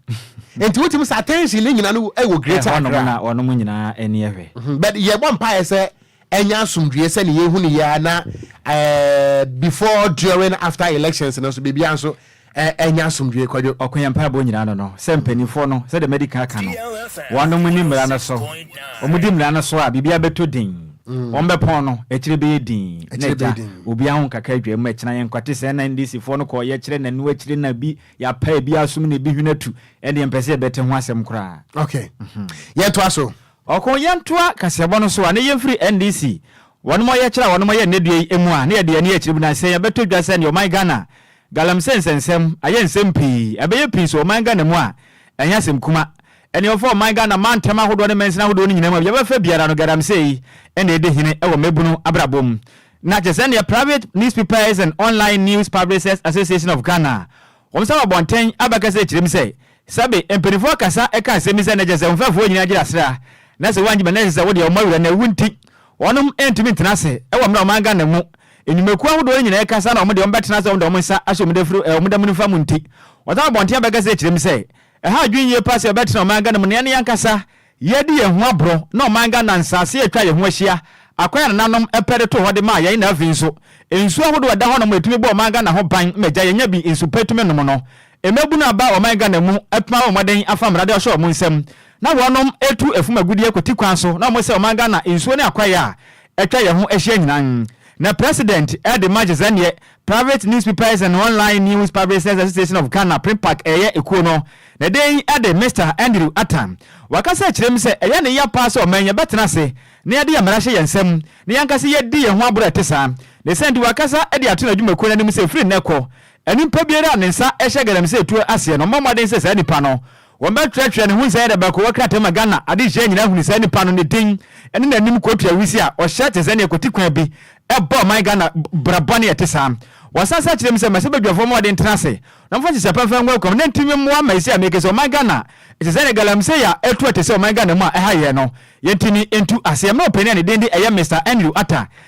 nti wotumi sɛ attention ne nyina no wɔ greater akra na wɔnom nyinaa ani ɛhwɛ mhm. but yɛbɔ mpaeɛ sɛ ɛnyɛ asomdwie sɛ ne yɛhu ne yɛa na eh, before during after elections no so biribia nso ɛnyɛ eh, asomdwie kwadwo ɔko yɛ mpaebɔ nyinaa no no sɛ mpanimfoɔ no sɛdeɛ madi ka ka no wɔnom ni mmara no so wɔmudi mmara no so a biribia bɛtɔ din Wɔbɛpɔn no, akyire bɛyɛ dinn. Na agya, obiara ho nkaka adwaa mu, ɛkyena yɛnkwate saa na NDC foɔ no kɔɔyɛ kyerɛ nanu akyire na bi yɛapa ebi asom na ebi hwene atu, ɛndeɛ mpɛ sɛ yɛbɛte ho asɛm koraa. Ok. Yɛntoa so. Ɔko yɛntoa kaseɛbɔ no so a na yɛmfiri NDC wɔnom ɔyɛ kyerɛ a wɔnom ɔyɛ nnɛ dua yi ɛmu a na yɛde yɛn ani akyire mu na sɛ yɛbɛtɔ dwa sɛdeɛ ɔman Ghana Galamsey nsɛnsɛm ayɛ nsɛm pii ɛbɛyɛ pii so ɔman Ghana mu a ɛnyɛ asɛm kuma Ɛne ɔfa ɔman Ghana mantam ahodoɔ ne mansini ahodoɔ no nyinaa mu a bia bɛfa biara no Galamsey na ɛdi hene wɔ mmabunu abrabɔ mu. Na te sɛdeɛ Private Newspapers and Online News Publishers Association of Ghana wɔn nsa wɔ abɔnten abɛka sɛ ɛkyerɛ mu sɛ sɛbe mpaninfoɔ kasa ka asɛm bi sɛ na kyerɛsɛ wo mfɛfoɔ nyinaa gyina serɛ a na sɛ woangyina na ɛkyerɛ sɛ wodeɛ wɔn awura na ɛwu nti wɔnom ntumi ntena ase wɔ mmerɛ ɔman Ghana mu nnwumakuo ahodoɔ no nyinaa ɛkasa na wɔn deɛ wɔn bɛtena ase wɔn de wɔn nsa ahyɛ wɔn dafiri wɔn dama nifa mu nti wɔn nsa wɔ abɔnten abɛka sɛ ɛkyerɛ mu sɛ Ɛha adwene yie paa sɛ yɛbɛtena Ɔman Ghana mu na yɛne yɛn ankasa yɛredi yɛn ho aborɔ na Ɔman Ghana nsase a atwa yɛn ho ahyia, akwan a nananom pɛ de too hɔ de maa yɛn na afei nso, nsuo ahodoɔ a ɛda hɔnom a ɛtumi bɔ Ɔman Ghana ho ban ma agya yɛnya bi nsu pa tumi nom no. Mmabunu aba Ɔman Ghana mu atumi abɔ mmɔden afa mmara de ahyɛ wɔn nsam na wɔnom atu afum agudeɛ kwati kwan so na wɔsɛe Ɔman Ghana nsuo ne akwaeɛ a atwa yɛn ho ahyia nyinaa. Na President de ma gyesɛ neɛ Private Newspapers and Online News Publishers Association of Ghana, PNPAG, ɛyɛ ekuo no ne den de Mister Andrew Attan. Wakasa akyerɛ mu sɛ ɛyɛ ne ya paa sɛ ɔman yɛbɛtena ase na yɛde yɛn mmara hyɛ yɛn nsam na yɛn ankasa yɛadi yɛn ho aboro a ɛte saa. Ne saa nti wakasa de ato n'adwumakuo no anim sɛ firi nnɛ kɔ, nipa biara a ne nsa hyɛ galamsey tuo aseɛ no ɔmmɔ mmɔden sɛ saa nipa no Wɔn bɛ twerɛ twerɛ ne ho nsɛyɛdɛ bɛko wɔ krataa mu ma Ghana adehyeɛ nyinaa hunu saa nipa no ne din ne nanim kotua wusie a ɔhyɛ te sɛ neɛ kɔti kwan bi bɔ ɔman Ghana bra bɔne ɛte saa Wɔn san sa kyerɛ mu sɛ mɛsɛ badwafoɔ mmɔɔden tena ase na wɔn fa nhyehyɛ pa mfa ngu akwam na nti mmoa ma ɛsi a mekese ɔman Ghana te sɛ neɛ galamsey a ɛtu ɛte sɛ ɔman Ghana mu a ɛha yɛn no yɛn ti ni ntu aseɛ mmerɛ ɔpanin a ne din de ɛyɛ Mister Andrew Atta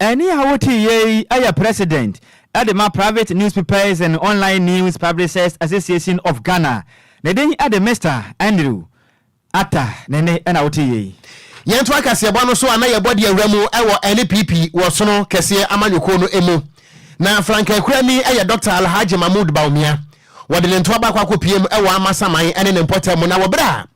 Ɛnne a wote yɛ yi yɛ president de ma Private Newspapers and Online News Publishers Association of Ghana, ne din de Mister Andrew Attah, ne nne na wote yɛ yi. Yɛn toa kaseɛbɔ no so a na yɛbɔ de awura mu wɔ NPP wɔ sono kɛseɛ amanyɔkuo no mu. Na frankakurani yɛ Dɔkta Alhaji Mahmood Bawumia. Wɔde ne ntoa baako akɔpiem wɔ Amasaman ne ne mpɔtam mu na wɔ berɛ a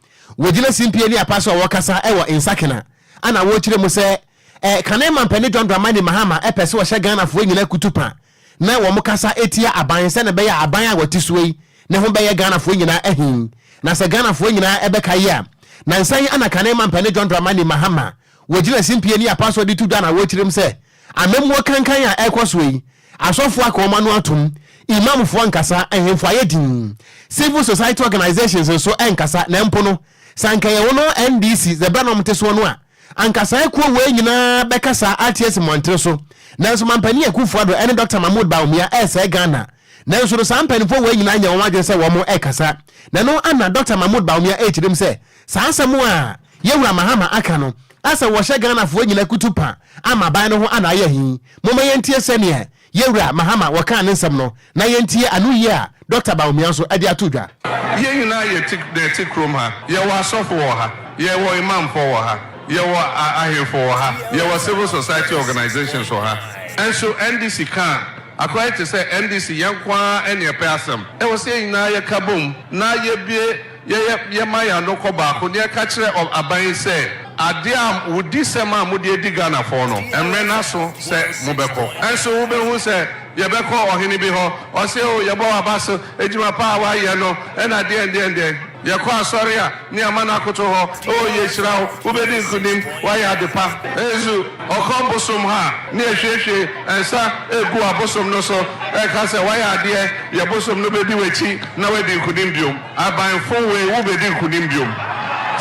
wɔgyina simpie ne apa so a wɔkasa wɔ Nsakena a na wɔkyerɛ mu sɛ Eh kane mampani John Dramani Mahama pɛ sɛ ɔhyɛ Ghana foɔ nyina kutupa na wɔn kasa tia aban sɛne ɛbɛyɛ a aban a wɔte soɔ yi ne ho bɛyɛ Ghana foɔ nyina ahi na sɛ Ghana foɔ nyina bɛka yi a nansa yi ana kane mampani John Dramani Mahama wɔ gyina simpie ne apasoɔ de to dwa na awɔ tirim sɛ amammuo kankan a ɛkɔ soɔ yi asɔfoɔ aka wɔn ano atom Imam foɔ nkasa ahemfo ayɛ din civil society organisations nso nkasa na mpo no sɛ anka ɛyɛ wɔn NDC sɛ berɛ na wɔn te soɔ no a Anka saa akuo wei nyinaa bɛka saa RTS mmɔntere so nanso Mampanin Akuffo Addo ɛne Doctor Mahmood Bawumia ɛresɛe Ghana nanso no saa mpaninfoɔ wei nyinaa nyɛ wɔn adwene sɛ wɔn ɛrekasa na ɛno ana Doctor Mahmood Bawumia ɛrekyirim sɛ saa asɛm a Yawura Mahama aka no asɛ wɔhyɛ Ghanafoɔ nyina kutu pa ama aban no ho ana ayɛ he? Momma yɛntie sɛdeɛ Yɛ Wura Mahama wɔkaa ne nsɛm no na yɛntie ano yie a Dɔkta Bawumia nso de ato dwa. Yɛn nyinaa yɛ ti na ɛte kurom ha. Yɛwɔ asɔfo wɔ ha. Yɛwɔ Imamfoɔ wɔ ha. Yɛwɔ ahemfo wɔ ha. Yɛwɔ civil society organisations wɔ ha. Nso NDC ka a, akɔyɛ te sɛ NDC yɛnko ara na ɛpɛ asɛm. Ɛwɔ sɛ yɛn nyinaa yɛka bom na yɛbue. Yɛyɛ yɛma yɛn ano kɔ baako ne yɛka kyerɛ ɔ aban yi sɛ adeɛ a wo di sɛm a mo de adi Ghana fɔɔ no ɛmmerɛ no aso sɛ mo bɛ kɔ nso wo bɛ hu sɛ yɛ bɛ kɔ ɔhene bi hɔ ɔse o yɛ bɔ wa ba so adwuma pa a wa yɛ no ɛna deɛn deɛn deɛn yɛ kɔ asɔre a ne ama no akoto hɔ o yɛ hyira wo wo bɛ di nkunim wa yɛ ade pa nso ɔkɔ bosom hɔ a ne yɛ hwie hwie nsa gu abosom no so ɛka sɛ wa yɛ adeɛ yɛ bosom no bɛ di wakyi na wa di nkunim biom. Abanfo wei wo bedi nkunim biom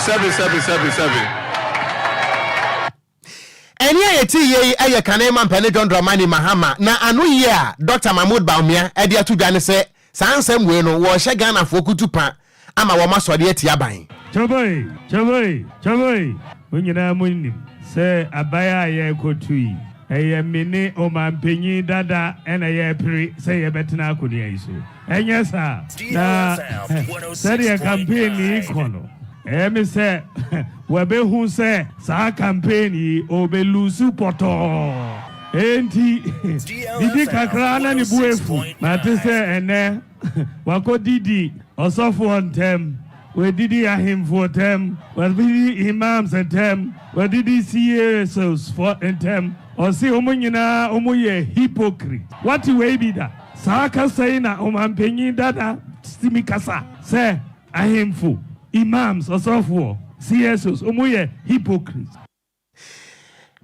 sɛbi sɛbi sɛbi sɛbi. Ɛnne a yɛte yie yi yɛ Kane Mampɛ ne John Dramani Mahama, na ano yie a Dɔkta Mahmood Bawumia de ato dwa ne sɛ saa nsɛm wei no wɔrehyɛ Ghanafoɔ kutu pa ama wɔn asɔre ati aban. Kyaboi! Kyaboi! Kyaboi! Mo nyinaa mo nim sɛ aban a yɛrekɔtu yi, ɛyɛ me ne Ɔmanpanyin dada na yɛrepere sɛ yɛbɛtena akonnwa yi so. Ɛnyɛ saa? Na sɛdeɛ campaign no rekɔ no, ɛyɛ me sɛ wɔabɛhu sɛ saa campaign yi ɔrebɛluusu pɔtɔɔ. Enti didi kakra ara na ne bo afu. Mate sɛ ɛnnɛ wakɔdidi ɔsɔfoɔ ntam. Wɔadidi ahemfo ntam, wɔadidi imams ntam, wɔadidi CASOs fɔ ntam. Ɔse ɔmo nyinaa ɔmo yɛ hypocrite. Wate wei bi da? Saa kasa yi na Ɔmanpanyin dada tumi kasa sɛ ahemfo, imams, ɔsɔfoɔ, CSOs ɔmo yɛ hypocrite.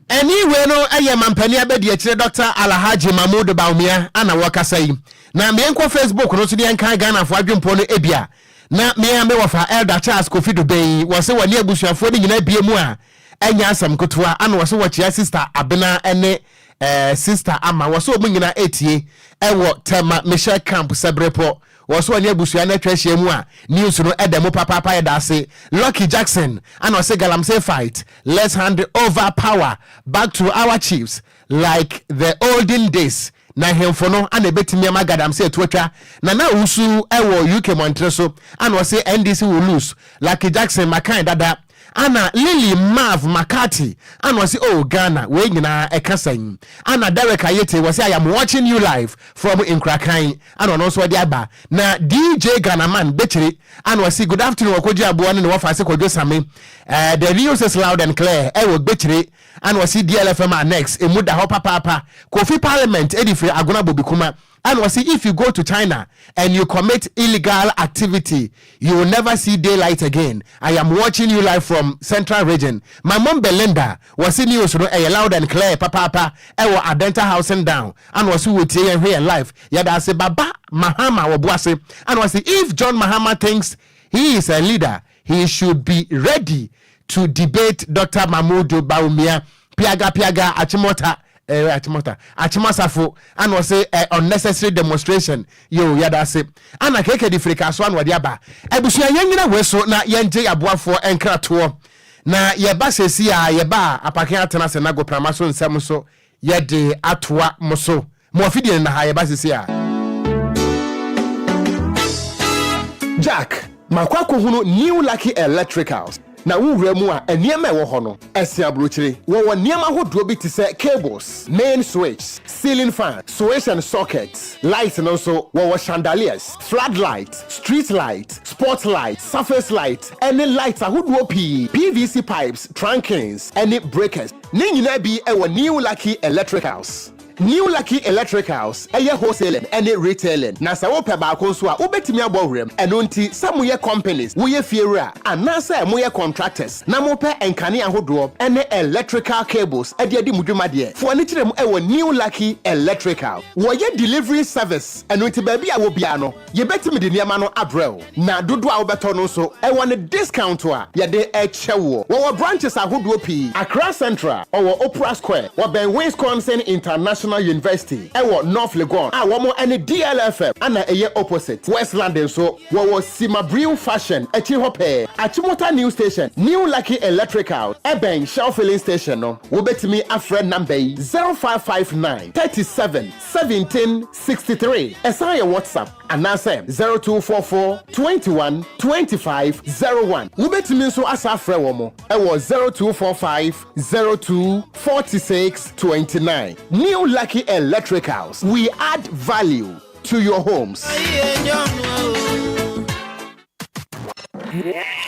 Ɛne wei no ɛyɛ mampanin abɛdiakyire Dɔkta Alahadji Mamoudou Bawumia a na wɔrekasa yi. Na me nkɔ Facebook no nso ne yɛnkan Ghanafoɔ adwempɔ no ebia na me ara me wɔfa Elder Charles Kofi Dubeng yi wɔse wɔne abusuafoɔ no nyinaa bue mu a ɛnyɛ asɛm ketewa ana wɔse wɔkyea Sister Abena ne eh, Sister Ama wɔse wɔn nyinaa etie ɛwɔ Tema Mission Camp Sɛberepɔ Wɔ so ɔne abusua no atwa ahyia mu a news no da mu papaapa yɛda ase Lucky Jackson ana ɔse galamsey fight let's hand over power back to our chiefs like the olden days na hemfo no ana ɛbɛtumi ama gadamsey atu atwa Nana Owusu wɔ UK Mɔntere so ana ɔse NDC will lose Lucky Jackson makae dada Ana Lily Marv McCarthy ana ɔse oh Ghana wei nyinaa ɛka sɛn? Ana Derek Ayetey wɔse I am watching you live from Nkrakan ana ɔno nso ɔde aba na DJ Ghanaman Bekyire ana ɔse good afternoon Ɔkɔgye Aboɔ ne ne wɔfa se Kwadwo Same eh the news is loud and clear eh wɔ Bekyire ana ɔse DLFM Annex emu da hɔ papaapa Kofi Parliament ɛde firi Agona Bobikuma Ɛna ɔsi if you go to China and you commit illegal activity you will never see day light again I am watching you live from central region my mom Belinda wɔsi news no ɛyɛ loud and clear papaapa ɛwɔ Adenta housing down ɛna ɔsi wɔ tie yɛn hwɛ yɛn live yɛda ase baba Mahama wɔbo ase ɛna ɔsi if John Mahama thinks he is a leader He should be ready to debate Doctor Mahmudu Bawumia piaga piaga Akyemɔta eh Akyemɔta Akyemɔsafo ana ɔse eh unnecessary demonstration yoo yɛda ase ana keke de firi kaso ana ɔde aba abusua yɛn nyina wei so na yɛn gye yaboafoɔ nkratoɔ na yɛba sesi a yɛba a apake atena ase na goprama so nsɛm nso Yɛde atoa mo so. Mo afidie no na ha yɛba sese a. Jack, makɔ akɔhunu New Lucky Electricals. Na wowura mu a, nneɛma a ɛwɔ hɔ no, ɛsen aburokyire. Wɔwɔ nneɛma ahodoɔ bi te sɛ cables, main switches, ceiling fan, switch and sockets, light no nso, wɔwɔ chandeliers, floodlight, street light, spot light, surface light, ne lights ahodoɔ pii, PVC pipes, trunkings, ne breakers. Ne nyinaa bi wɔ New Lucky Electricals. New Lucky Electricals yɛ wholesaling ne retailing, na sɛ wopɛ baako nso a, wobɛtumi abɔ wuram. Ɛno nti, sɛ moyɛ companies, woyɛ fiewura, anaasɛ moyɛ contractors na mopɛ nkanea ahodoɔ ne electrical cables de adi mo dwuma deɛ, fo ani kyerɛ mu wɔ New Lucky Electrical. Wɔyɛ delivery service, ɛno nti baabi a wɔ biara no, Yɛbɛtumi de nneɛma no abrɛ wo, na dodoɔ a wobɛtɔ no nso, ɛwɔ ne discount a yɛde rekyɛ woɔ. Wɔwɔ branches ahodoɔ pii, Accra Central, wɔwɔ Opera Square, wɔbɛn Winsconsin International University, ɛwɔ North Legon a wɔn ne DLFM na ɛyɛ opposite, Westland nso, wɔwɔ Sima Brew Fashion akyi hɔ pɛɛ, Achimota New Station, New Lucky Electricals, ɛbɛn Shell Filling Station no. Wobɛtumi afrɛ number yi, 0559 37 17 sixty three Ɛsan yɛ WhatsApp anaasɛ zero two four four twenty one twenty five zero one Wobɛtumi nso asa afrɛ wɔn wɔ zero two four five zero two forty six twenty nine New Lucky Electricals, we add value to your homes.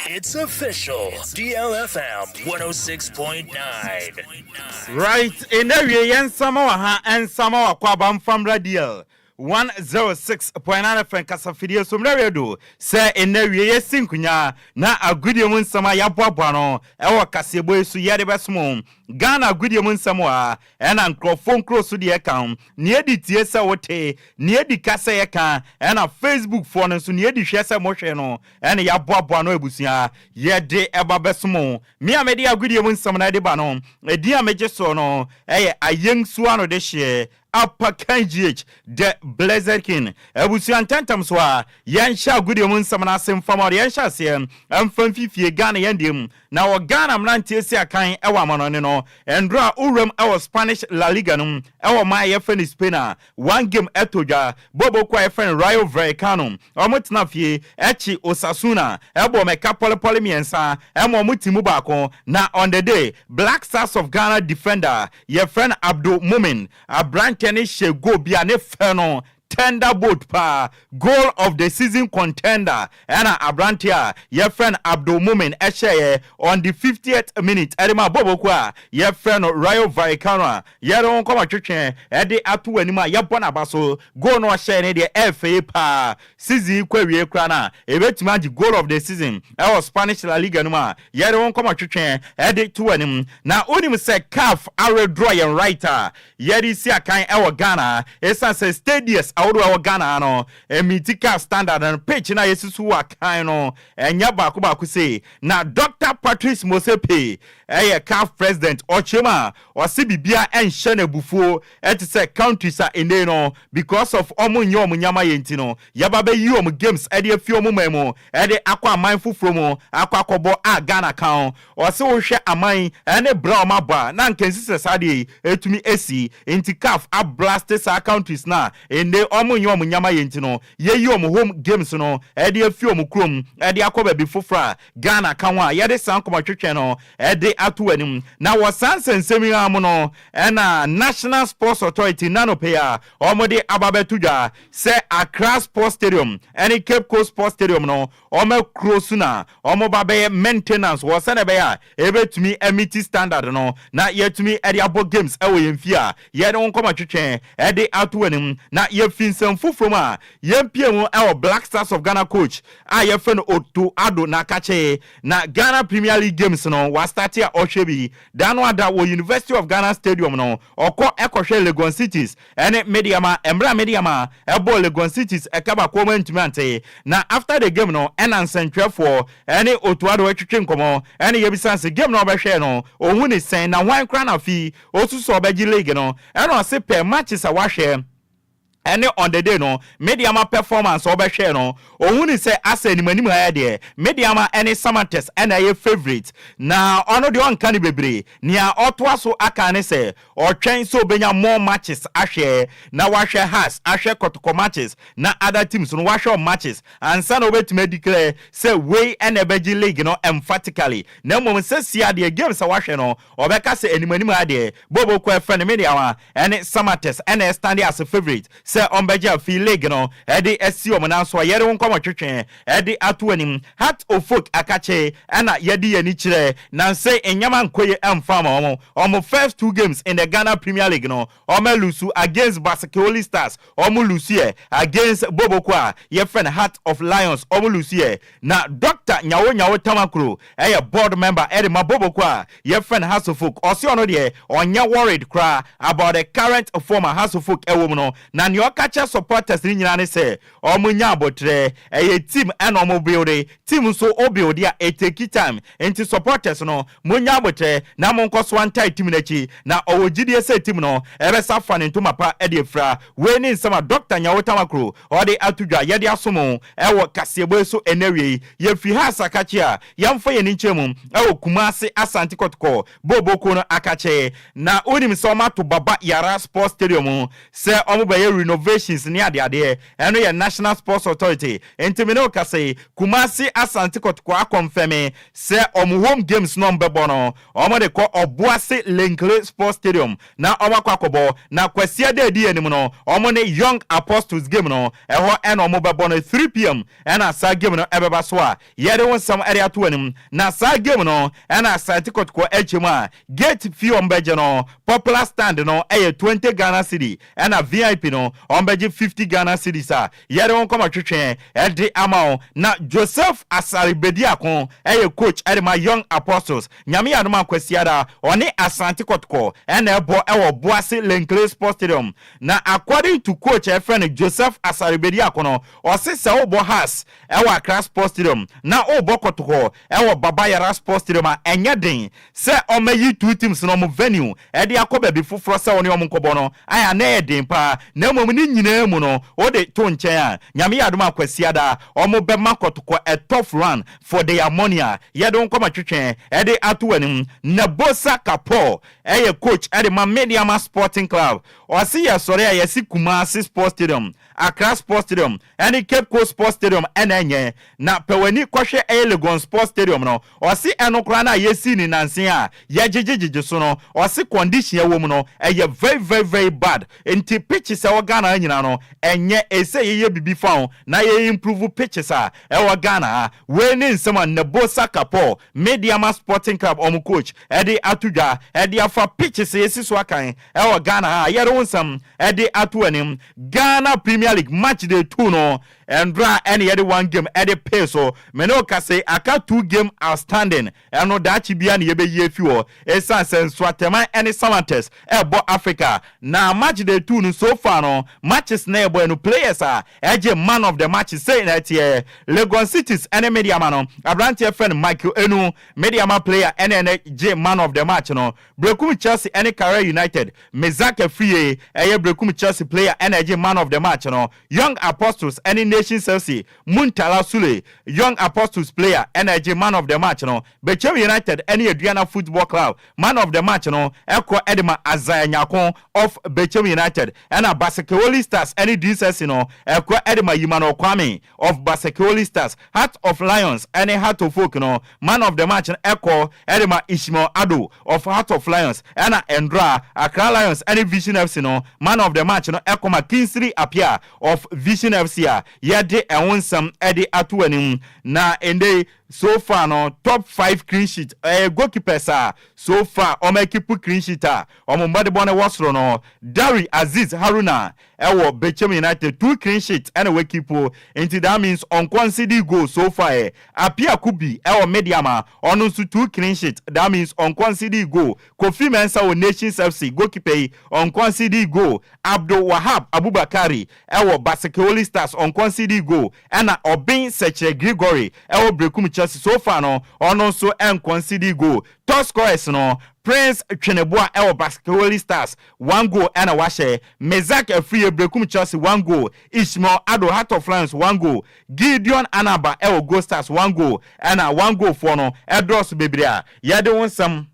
It's official, DLFM 106.9. Right, ɛnna awie yɛn nsama wɔ ha, nsama wakɔ aba mfa mmra DL 106.9 FM kasafidie so mmra radio sɛ ɛnna awie yɛsi nkonya na agodie mu nsɛm a yɛaboaboa no ɛwɔ kaseɛbɔ yi so yɛde bɛsom Ghana agodie mu nsɛm wɔ ha, ɛna nkorɔfoɔ nkuro so deɛ ɛka ho, nea edi tie sɛ wote, nea edi ka sɛ yɛka, ɛna Facebook foɔ no nso nea edi hwɛ sɛ mohwɛ no, ɛna yɛaboaboa ano abusua, yɛde ɛba bɛso mo, me a mede agodie mu nsɛm no ɛde ba no, edin a megye soɔ no ɛyɛ Ayɛnsuo ano dehyeɛ, Apa Kan GH, The Blessed King, abusua ntɛntɛm so a, yɛnhyɛ agodie mu nsɛm no ase mfa ma ɔde yɛnhyɛ aseɛ, ɛmfa mfi fie, Ghana yɛn deɛ mu, Na wɔ Ghana mmeranteɛ si akan wɔ amanɔne no, Ndora wuram wɔ Spanish La Liga no mu wɔ ɔman a yɛfrɛ no Spain a one game ɛtɔ dwa bɔbɔ kuo a yɛfrɛ no Rayo Vallecano wɔn tena fie ɛkye Osasuna ɛbɔɔ mɛka pɔlepɔle mmiɛnsa ɛma wɔn ti mu baako na on the day Black Stars of Ghana defender yɛfrɛ no Abdul Mumin abranteɛ no hyɛ goal bi a ne fɛ no Thunderbolt paa, goal of the season contender ɛna aberanteɛ a yɛfrɛ no Abdulmumin hyɛeɛ on the fiftieth minute de maa Bobo kuo a yɛfrɛ no Rayo Vallecano a yɛde wɔn kɔma twetweɛ de ato wɔn anim a yɛbɔ no aba so. Goal no a ɔhyɛeɛ no deɛ ɛyɛ fɛ yie paa. Season yi kɔ awieeɛ koraa no a, ɛbɛtumi agye goal of the season wɔ Spanish La Liga no mu a yɛde wɔn kɔma twetweɛ de to wɔn anim. Na wonim sɛ caf awedraw yɛn right a Yɛde si akan wɔ Ghana ha esiane sɛ stadius ahodoɔ a ɛwɔ Ghana ha no mmiti car standard no, pitch no a yɛasusu wɔ akan no nyɛ baako baako sei. Na Dɔkta Patrice Motsepe yɛ caf president, ɔkyerɛ mu a ɔse biribiara nhyɛ no abufuo te sɛ countries a nnɛyi no because of wɔn nyɛ wɔn nneɛma yɛ nti no yɛba bɛyi wɔn games de afi wɔn man mu de akɔ aman foforɔ mu akɔ akɔbɔ a Ghana ka ho. Ɔse wohwɛ aman yi ne bra a ɔmo abɔ a na anka ensi sɛ saa adeɛ yi etumi esi. Nti caf a blaste saa countries no a ende ɔmo nyɛ ɔmo nyama yɛ nti no yeyi ɔmo home games no de afi ɔmo kurom de akɔ baabi foforo a Ghana ka ho a yɛde saa nkɔmɔtwetwe no de ato anim. Na wɔ saa nsɛnsɛm yi ara mu no na National Sports Authority nnɛ anɔpa yi a ɔmo de aba abɛto dwa sɛ Accra Sports Stadium ne Cape Coast Sports Stadium no Wɔn akuro so na wɔba bɛyɛ maintenance wɔ sɛdeɛ ɛbɛyɛ a ɛbɛtumi amiti standard no na yɛatumi de abɔ games wɔ yɛn fie a yɛde wo nkɔmmɔ twetwe de ato w'anim na yɛfi nsɛm foforɔ mu a yɛmpie mu wɔ Black Stars of Ghana coach a yɛfrɛ no Otto Addo Nakakye na Ghana Premier League games no wastate a ɔhwɛ bi da no ada wɔ University of Ghana Stadium no ɔkɔ kɔhwɛ Legon Cities Ɛne me de ama mmerɛ a me de ama ɛbɔɔ Legon Cities ɛkabakoɔ mu antumi ante na after the game no ɛna nsɛntwerɛfoɔ ɛne Otto Addo ɛtwetwe nkɔmɔ ɛne yɛbisa se game no a ɔbɛhwɛɛ no ɔhu ne sɛn na hwan koraa na afei ɔsusu sɛ ɔbɛgye league no ɛna ɔse pɛ matches a wahwɛ ɛne on the day no me de ama performance a ɔbɛhwɛɛ no ɔhu ne sɛ asɛ anim anim ha ɛdeɛ me de ama ɛne Samantes ɛna ɛyɛ favourite na ɔno deɛ ɔnka no bebree nea ɔtoa so aka ne sɛ Ɔretwɛn sɛ obenya more matches ahwɛ na wahwɛ Hearts, ahwɛ Kɔtɔkɔ matches na other teams no wahwɛ wɔn matches ansa na obetumi adeclare sɛ wei na ɛbɛgye league no emphatically na mmom sesie ara deɛ games a wahwɛ no ɔbɛka sɛ anim anim ara deɛ Bobo Kɔ ɛfɛ no me deɛ awa ɛne Samatex na ɛstande as favourite sɛ ɔmbɛgye afei league no de asi wɔn nan so a yɛde wo nkɔmɔtwetwe de ato anim. Heart of folk akakye na yɛde yɛn ani kyerɛ nanse nneɛma nkɔ yie mfa mma wɔn. Wɔn first two games in the Ghana Premier League no wɔalusu against Basakeoli Stars, wɔlusuiɛ, against Boboko a yɛfrɛ no Heart of Lions wɔlusuiɛ, Na Dɔkta Nyawo Nyawo Tamakro yɛ board member de ma Boboko a yɛfrɛ no Hasofolk. Ɔse ɔno deɛ ɔnyɛ worried koraa about the current form a Hasofolk wɔ mu no. Na nea ɔka kyerɛ supporters no nyinaa ne sɛ wɔn nya aboterɛ. Ɛyɛ team na wɔn builde, team nso wo builde a it takes time. Nti supporters no mo nya aboterɛ na mo nkɔ so ntae team no akyi. Na ɔwɔ gyidie sɛ team no bɛsa afa ne ntoma pa de afira. Wei ne nsɛm a Dɔkta Nyawo Tamakro ɔde ato dwa. Yɛde aso mo. Ɛwɔ kaseɛbɔ yi so ɛnnawiei, yɛfiri ha asakakye a, yɛmfa yɛn ani nkyerɛ mu wɔ Kumase Asante Kɔtɔkɔ booboo kuo no akakyee. Na wonim sɛ wɔato Baba Yara Sports Stadium sɛ wɔbɛyɛ renovations ne adeadeɛ, ɛno yɛ National Sports Authority, nti me ne wo kasa yi, Kumase Asante Kɔtɔkɔ akɔnfɛme sɛ wɔn home games no wɔbɛbɔ no, Wɔde kɔ Obuasi Linkley Sports Stadium na wɔakɔ akɔbɔ, na Kwasia da edi anim no, wɔn ne Young Apostles game no, ɛhɔ na wɔbɛbɔ no, three pm na saa game no bɛba so a yɛde wo nsɛm de ato w'anim. Na saa game no na Asante Kɔtɔkɔ kyɛ mu a gate fee a wɔbɛgye no, popular stand no yɛ twenty Ghana cedi, ɛna VIP no wɔbɛgye fifty Ghana cedis a Yɛde wo nkɔma twetwe de ama wo na Joseph Asare Bediako yɛ coach de ma Young Apostles. Nyame yɛ adom a Kwasiada ɔne Asante Kɔtɔkɔ na ɛbɔ wɔ Boase Lenkle Sports Stadium. Na according to coach a yɛfrɛ no Joseph Asare Bediako no, ɔse sɛ wobɔ Hearts wɔ Accra Sports Stadium na wobɔ Kɔtɔkɔ wɔ Baba Yara Sports Stadium a ɛnyɛ den sɛ ɔmɛyi two teams no wɔn venue de akɔ baabi foforɔ sɛ wo ne wɔn nkɔbɔ no, ae, ana ɛyɛ den paa, na mmom ne nyinaa mu no, wo de, to nkyɛn a, Nyame yɛ adom a Kwasiada, wɔn bɛma kɔtɔkɔ ɛtɔ Floran fo de amɔne a, yɛde wo nkɔma twetwɛn de ato w'anim. Na Bosa Kapor yɛ coach de ma Medeama Sporting Club. Ɔse yɛsɔre a, yɛse Kumasi Sports Stadium, Accra Sports Stadium ne Cape Coast Sports Stadium na ɛnyɛ, na pɛ w'ani kɔhwɛ ɛyɛ Legon Sports Stadium no, Ɔse ɛno koraa no a yɛsii no nanse a yɛgyegye gyegye so no ɔse condition a ɛwɔ mu no ɛyɛ very very very bad nti pitches a ɛwɔ Ghana ha nyinaa no ɛnyɛ ɛsɛ yɛyɛ biribi fa ho na yɛ improve pitches a ɛwɔ Ghana ha. Wei ne nsɛm a Nebo Saka Paul Medeama Sporting Club wɔn coach de ato dwa de afa pitches a yɛsi so akan wɔ Ghana ha a yɛde wo nsɛm de ato w'anim. Ghana Premier League match day two no Ɛndra ɛne yɛde one game ɛde pay so me ne wo ka se aka two game outstanding ɛno daakye biara ne yɛbɛyi afi hɔ ɛsiane sɛ Nsoatɛman ɛne Salanters ɛbɔ Africa na match day two no so far no matches na yɛbɔɛ no players a ɛgye man of the match sei na ɛteɛ Legon Cities ɛne Medeama no abranteɛ frɛ no Michael Enu Medeama player ɛne ɛnɛ gye man of the match no Berekum Chelsea ɛne Kara United Mezak Afriyie ɛyɛ Berekum Chelsea player ɛna ɛgye man of the match no Young Apostles ne Nation Chelsea mu Ntala Sule, Young Apostles player na ɛgye Man of the Match no. Bɛkyɛm United ne Aduana Football Club Man of the Match no kɔ de ma Isaiah Nyarko of Bɛkyɛm United, ɛna Basekeoli Stars ne Dinsesi no kɔ de ma Yimanor Kwame of Basekeoli Stars. Heart of Lions ne Heart of Oak no Man of the match no kɔ de ma Ishmael Addo of Heart of Lions ɛna Ndora, Accra Lions ɛne Vision FC no Man of the match no kɔ ma Kingsley Appiah of Vision FC a yɛde ɛho nsɛm de ato w'anim. Na ɛndɛ yi so far no top five clean sheet ɛyɛ goalkeepers a so far wɔn akipu clean sheet a wɔn mmɔdebɔ no wɔ soro no, Darry Azeez Haruna Ɛwɔ Bechem United two clean sheet ɛna wa keep o nti that means ɔnkɔ nsedi goal so far ɛ. Appiah Kubi ɛwɔ Medeama ɔno nso two clean sheet that means ɔnkɔ nsedi goal. Kofi Mensah wɔ Nations FC goalkeeper yi ɔnkɔ nsedi goal. Abdul Wahab Abubakari ɛwɔ Baseke Holy Stars ɔnkɔ nsedi goal ɛna Obeng Sekyerɛ Gregory ɛwɔ Berekum Chelsea so far no ɔno nso ɛnkɔ nsedi goal. Top scorers no Prince Tweneboa ɛwɔ Baseke Holy Stars one goal ɛna wahyɛ Mezack Afriyie Berekum Chelsea one goal Ishmael Addo Heart of Lions one goal Gideon Anaba ɛwɔ Gold Stars one goal ɛna one goal foɔ no ɛdɔɔso bebree a yɛde wo nsɛm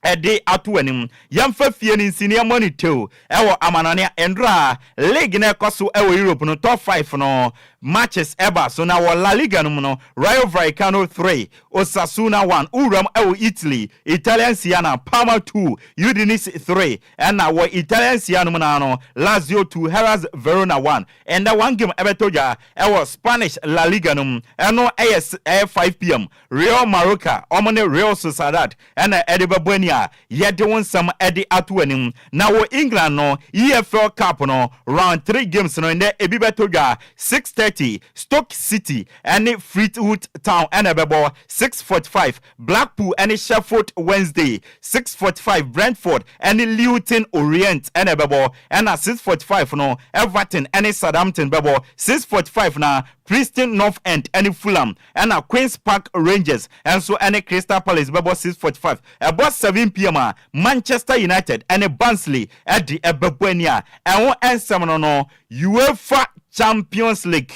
ɛde ato w'anim Yɛmfa fie no nsiniɛ mmɔ no tew ɛwɔ amanɔne a nnora League no a ɛkɔ so ɛwɔ Europe no top five no matches ɛba so na wɔ La Liga no mu no Rayo Vallecano three Osasuna one, Wuram wɔ Italy, Italian Serie A no, Parma two, Udinese three, ɛnna wɔ Italian Serie A no mu no ara no, Lazio two, Hellas Verona one. Ɛnnɛ one game bɛtɔ dwa wɔ Spanish La Liga no mu, ɛno yɛ ɛyɛ five pm, Real Mallorca wɔn ne Real Sociedad Ɛna ɛde bɛbɔ ani a yɛde wo nsɛm de ato w'anim. Na wɔ England no EFL Cup no Round Three games no nnɛ ebi bɛtɔ dwa six thirty, Stoke City ne Fleetwood Town na ɛbɛbɔ, six forty five, Blackpool ne Sheffield Wednesday, six forty five, Brentford ne Lewton Orient na ɛbɛbɔ, ɛna six forty five no Everton ne Southampton bɛbɔ, six forty five na Preston North End ne Fulham Ɛna Queens Park Rangers nso ne Crystal Palace bɛbɔ six forty five. Ɛbɔ seven pm a, Manchester United ne Barnsley de bɛbɔ ani a ɛho nsɛm no no Uefa Champions League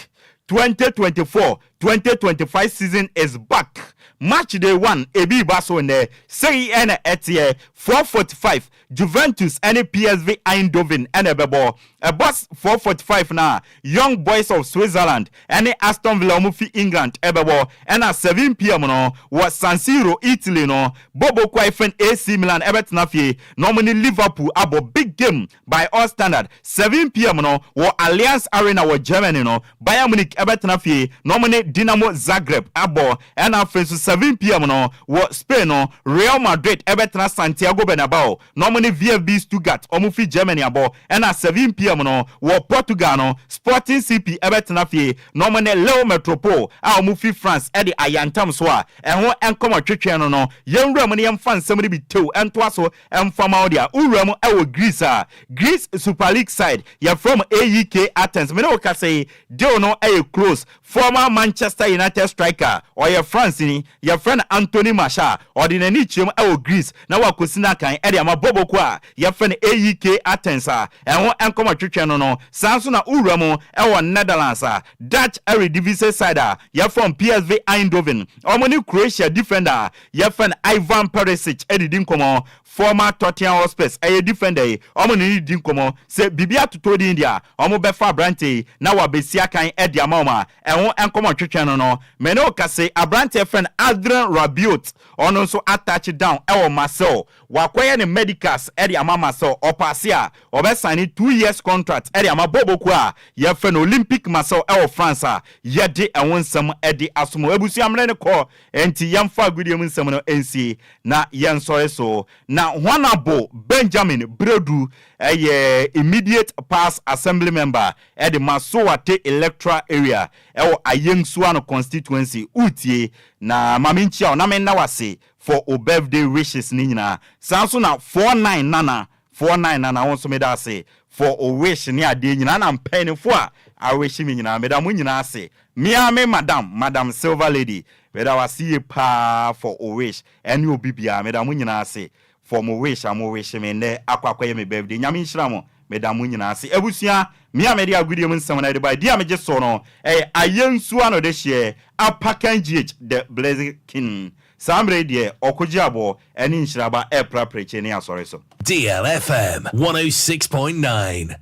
twenty twenty four, twenty twenty five season is back! Matchday one ebi reba so nnɛ. Sei na ɛteɛ, four forty five Juventus ne PSV Eindhoven na ɛbɛbɔ. Ɛbɔ s, four forty five na Young Boys of Switzerland ne Aston Villa a wɔfi England bɛbɔ, ɛnna seven pm no, wɔ San Siro, Italy no, Bobo Kwae Fane AC Milan bɛtena fie na wɔne Liverpool abɔ big game by all standard. Seven pm no, wɔ Allianz Arena wɔ Germany no, Bayern Munich bɛtena fie na wɔne Dinamo Zagreb abɔ. Ɛna afei nso 7 pm no, wɔ Spain no, Real Madrid bɛtena Santiago Bernabao na wɔne VFB Stuttgart, wɔn fi Germany abɔ. Ɛna 7 pm no, wɔ Portugal no, Sporting CP bɛtena fie na wɔne Lille Metropole a wɔn fi France de ayɛ ntam so a ɛho nkɔmɔ twetwee no no. Yɛnwura mu na yɛmfa nsɛm no bi tew ntoa so mfa ma wo deɛ wowura mu wɔ Greece a, Greece Super League side yɛfrɛ wɔn AEK Athens. Me ne wo kasa yi, deal no yɛ close. Former Manchester United striker a ɔyɛ Franceni, yɛfrɛ no Anthony Martial, ɔde n'ani kyerɛm wɔ Greece na wakosi n'akan de ama bɔbɔ kuo a yɛfrɛ no AEK Athens a ɛho nkɔmmɔ twetwɛn no no. Saa nso na wowura mu wɔ Netherlands a Dutch Eredivisie side a yɛfrɛ wɔn PSV Eindhoven, wɔne Croatia defender a yɛfrɛ no Ivan Perisic didi nkɔmmɔ Former Tottenham Hotspurs ɛyɛ defender yi, wɔn ne no redi nkɔmmɔ. Sɛ biribi atotɔ din deɛ a, wɔbɛfa aberanteɛ yi na wabɛsi akan de ama wɔn a ɛho nkɔmmɔ ntwetwe no no. Me ne wo kase, aberanteɛ yɛfrɛ no Adrien Rabiot, ɔno nso atouch down wɔ Marseille. Wakɔyɛ ne medicals de ama Marseille. Ɔpaase a, wɔbɛsane two years contract de ama bɔɔlbɔ kuo a yɛfrɛ no Olympique Marseille wɔ France a yɛde ɛho nsɛm de asom wo. Abusua mmerɛ no kɔ. Enti yɛmfa agodie mu nsɛm no nsie, na yɛnsɔre so. Na Honourable Benjamin Bredu yɛ Immediate Past Assembly Member de Masoate Electoral Area wɔ Ayengsuano Constituency. Woretie, na ma menkyia wo na menna wo ase for wo birthday wishes no nyinaa. Saa nso na Four Nine Nana Foɔ nnan nana wo nso meda ase for o wish ne adeɛ nyinaa na mpaninfoɔ a a wish me nyinaa meda mo nyinaa ase me ara me madam madam silver lady meda wo ase yie paa for o wish ɛne obi biara meda mo nyinaa ase for mo wish a mo wish me nnɛ akɔ akɔyɛ me birthday nyame nhyira mo meda mo nyinaa ase abusua me a mede agodie mu nsɛm no ɛde bae di a megye so no ɛyɛ ayɛ nsuo ano de hyeɛ apakan gh the blessed king Saa mmerɛ yi deɛ ɔkogye aboɔ ɛne nhyiraba ɛɛpra prekyee ne asɔre so. Deal FM 106.9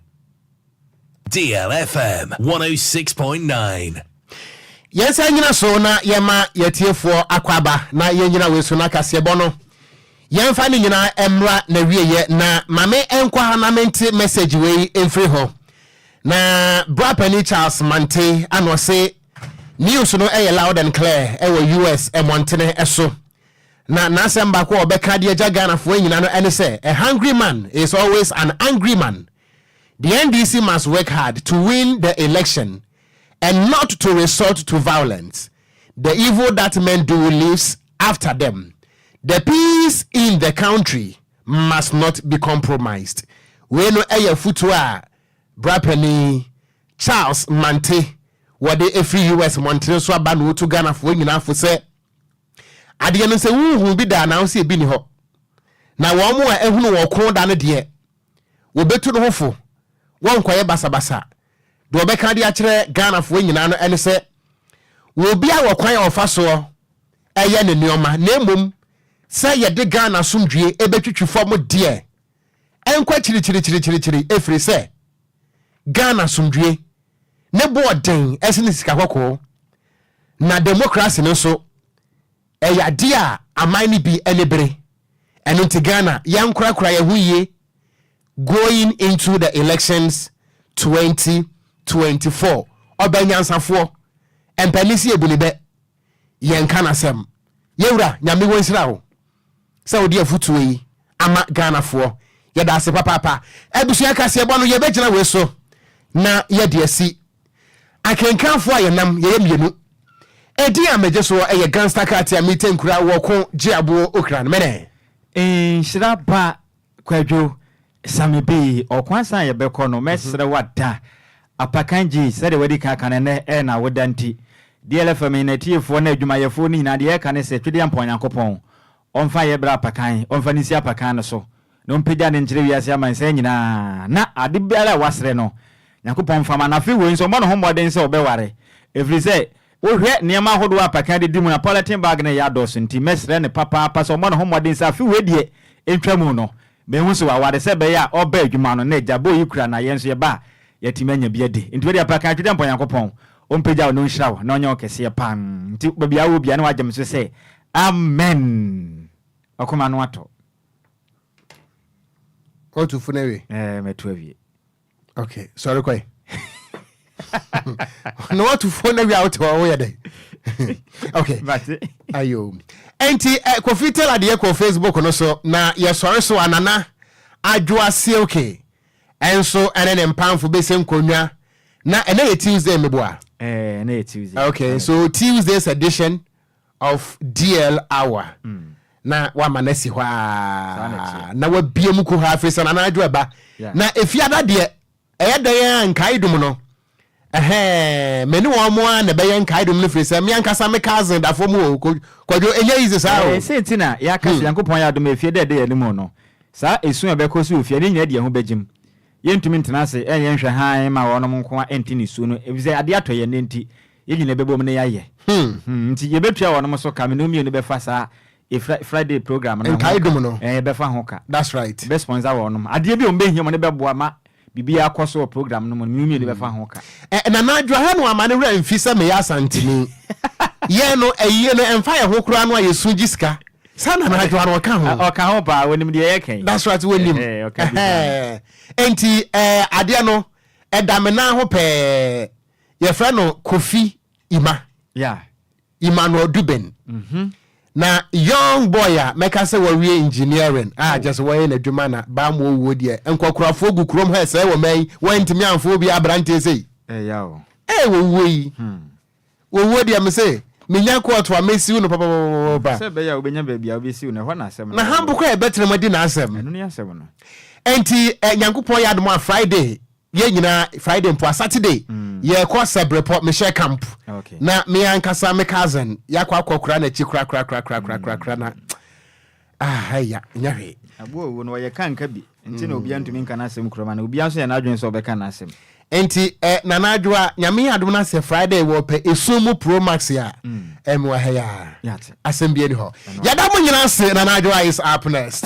Deal FM 106.9. Yɛn nsa nyina so na yɛma yɛatiefoɔ akwaaba na yɛnyina wei so na kaseɛbɔ no yɛmfa ne nyina mmra nawieɛ na mame nkɔ ha na mente message wei mfiri ho na bra pani Charles Mante ana ɔse News no yɛ loud and clear wɔ US mmɔntene so, na n'asɛm baako a ɔbɛka de agya Ghanafoɔ anyina no ne sɛ, A hungry man is always an angry man. The NDC must work hard to win the election and not to resort to violence. The evil that men do leaves after them. The peace in the country must not be compromised. Wei no yɛ afotuo a Bra Panin Charles Mante, wɔde ɛfiri US mmɔntene so aba na ɔtu Ghanafoɔ nyinaa fo sɛ, Adeɛ no sɛ wonhuu bi da anaa sɛ ɛbi ni hɔ, na wɔn a ahunu wɔn ɔko da no deɛ, wɔbɛtu no ho fo, wɔnkɔyɛ basabasa. Deɛ wɔbɛka de akyerɛ Ghanafoɔ nyinaa no ne sɛ, obiara wɔ kwan a ɔfa soɔ yɛ ne nneɛma, na mmom sɛ yɛde Ghana asomdwoeɛ bɛtwitwi fam deɛ, ɛnkɔ akyiri kyirikyirikyirikyiri ɛfiri sɛ Ghana asomdwoe ne bo ɔden sene sika kɔkɔɔ na demokrase no nso ɛyɛ adeɛ a aman no bi ani bere ɛno nti Ghana yɛnkorakora yɛn ho yie going into the elections 2024 ɔbɛnyansafoɔ mpanin se yɛbu ne bɛ yɛnka nasɛm. Yewura Nyame wonhyira wo sɛ wode afutuo yi ama Ghanafoɔ. Yɛdaase papaapa. Abusua kaseɛbɔ no yɛbɛgyina wei so na yɛde asi. Akenkanfoɔ a yɛnam yɛyɛ mmienu. Edin a megye soɔ ɛyɛ Gangster Katia Mitenkura Wɔko Gyeaboɔ Okran Mene. Nhyira ba Kwadwo, sa me bi. Ɔko ansa na yɛbɛkɔ no, mɛsrɛ wo ada apakan gyi sɛdeɛ woadi kan aka no ɛnnɛ ɛyɛ na woda nti. DLFM ne n'atiefoɔ ne adwumayɛfoɔ no nyinaa deɛ yɛreka ne sɛ Twedeɛ Ampɔn Nyankopɔn ɔmfa nyɛ berɛ apakan, ɔmfa no nsi apakan no so na ɔmpagya no nkyerɛ wiase amansan nyinaa na ade biara a wasrɛ no Nyankopɔn mfa ma no. Afei wei nso ɔmmɔ ne ho mmɔden sɛ ɔbɛware ɛfiri sɛ Wohwɛ nneɛma ahodoɔ a Pakin de di mu a polythene bag no reyɛ adɔɔso nti, mɛsrɛ no papaapa sɛ ɔmmɔ ne ho mmɔden sɛ afe wei deɛ ɛntwa mu no, mehu sɛ waware sɛ ɛbɛyɛ a ɔba adwuma no na agya bowl yi kura na yɛn nso yɛba a yɛatumi anya bi adi. Nti wode Apakan Twitwampɔn Nyankopɔn ɔmpagya wo na ɔnhyira wo na ɔnyɛ wo kɛseɛ paa nti baabi a wowɔ biara na woagye me so sɛ Amen! Ɔkoma no atɔ. Watu fo no awie? Ɛɛ, matu awie. okay sɔre kɔe na watu fo na wia wote hɔ woyɛ dɛn okay ayo ɛnti eh, kofi tel adeɛ kɔ facebook no so na yɛsɔre so anana adwoa silke ɛnso ɛne ne mpamfo bɛsɛ nkonnwa na ɛnɛ yɛ tuesday meboa eh, okay so tuesday's edition of DL hour na wama no asi hɔ a na wabie mu kuhaa firi sɛ nana adwo ɛba na efiada deɛ ɛyɛ dɛn a nkae dum no ɛhɛn me ne wɔn a na ɛbɛyɛ nkae dum no firi sɛ me ankasa me cousin da fam o kwadwo ɛnyɛ easy saa o. ɛsɛ nti na yɛaka sɛ hmm. nyankopɔn yɛ adom efie dɛ ɛde yɛn anim no saa esu a ɛbɛkɔ so wɔ fie ne nyinaa de yɛn ho bɛgyim Yɛrentumi ntena ase nyɛ nhwɛhan mma wɔnom nko ara nte ne su no, efisɛ ade atɔ yɛn nnɛ nti, yɛn nyinaa bɛbom na yɛayɛ. Hmm. Nti yɛbɛtua wɔnom so ka. Me ne wo mmienu bɛfa saa Fri, Friday program no ho ka. Nkaedum no. Ɛɛ, yɛbɛfa ho ka. That's right. Yɛbɛ sponsor wɔnom. Adeɛ bi a wɔbɛhia, wɔde bɛboa ma biribiara akɔ so wɔ program no mu no, me ne wo mmienu bɛfa ho ka. Ɛ, Nana Adwo, ahwɛ no amma ne werɛ amfi sɛ meyɛ Asanteni. Yɛn no, ayie no, ɛmfa yɛn ho koraa no a yɛsu gye sika. Saa na anadwo ara ɔka ho. Ɔka ho paa, wɔnim deɛ yɛka yi. That's right, wɔnim. Enti adeɛ no, ɛda me nan ho pɛɛ. Yɛfrɛ no Kofi Ima. Yeah. Emmanuel Duben. Mm -hmm. Na young boy a mɛka sɛ wɔwie engineering a kyɛ sɛ wɔyɛ n'adwuma na baa mu owuo deɛ nkɔkorafoɔ gu kurom ha sɛ wɔ mɛn wɔntumi amfo obi aberanteɛ sɛ yi. Ɛyɛ o. Ɛyɛ wɔwuo yi. Hmm. Wɔwuo deɛ mese menya kɔɔto a mɛsiw no papapapapa. Sɛ ɛbɛyɛ a wobɛnya baabi a wobɛsiw no, ɛhɔ na asɛm no wɔ. Na Hambo koraa a yɛbɛtena mu adi n'asɛm. Ɛno ne asɛm no. Ɛnti Nyankopɔn yɛ adom a Friday yɛn nyinaa, Friday mpo a, Saturday yɛkɔ Sɛbrepɔ, mehyɛ camp. Na me ankasa me cousin, yɛakɔ akɔkora n'akyi korakorakorakorakorakorakoraa na. Ah eya, nyɛ hwee. Aboa owu no, ɔyɛ kanka bi nti na obia ntumi nka n'asɛm kura mu anaa? Obia nso yɛ n'adwene sɛ ɔbɛka n'asɛm. Enti eh, Nana Adwoa, Nyame adom na sɛ Friday wɔpɛ esum mu pro max a, eh me wɔ ha yi aa. Asɛm bia ni hɔ. Yɛda mo nyina ase, Nana Adwoa is up next.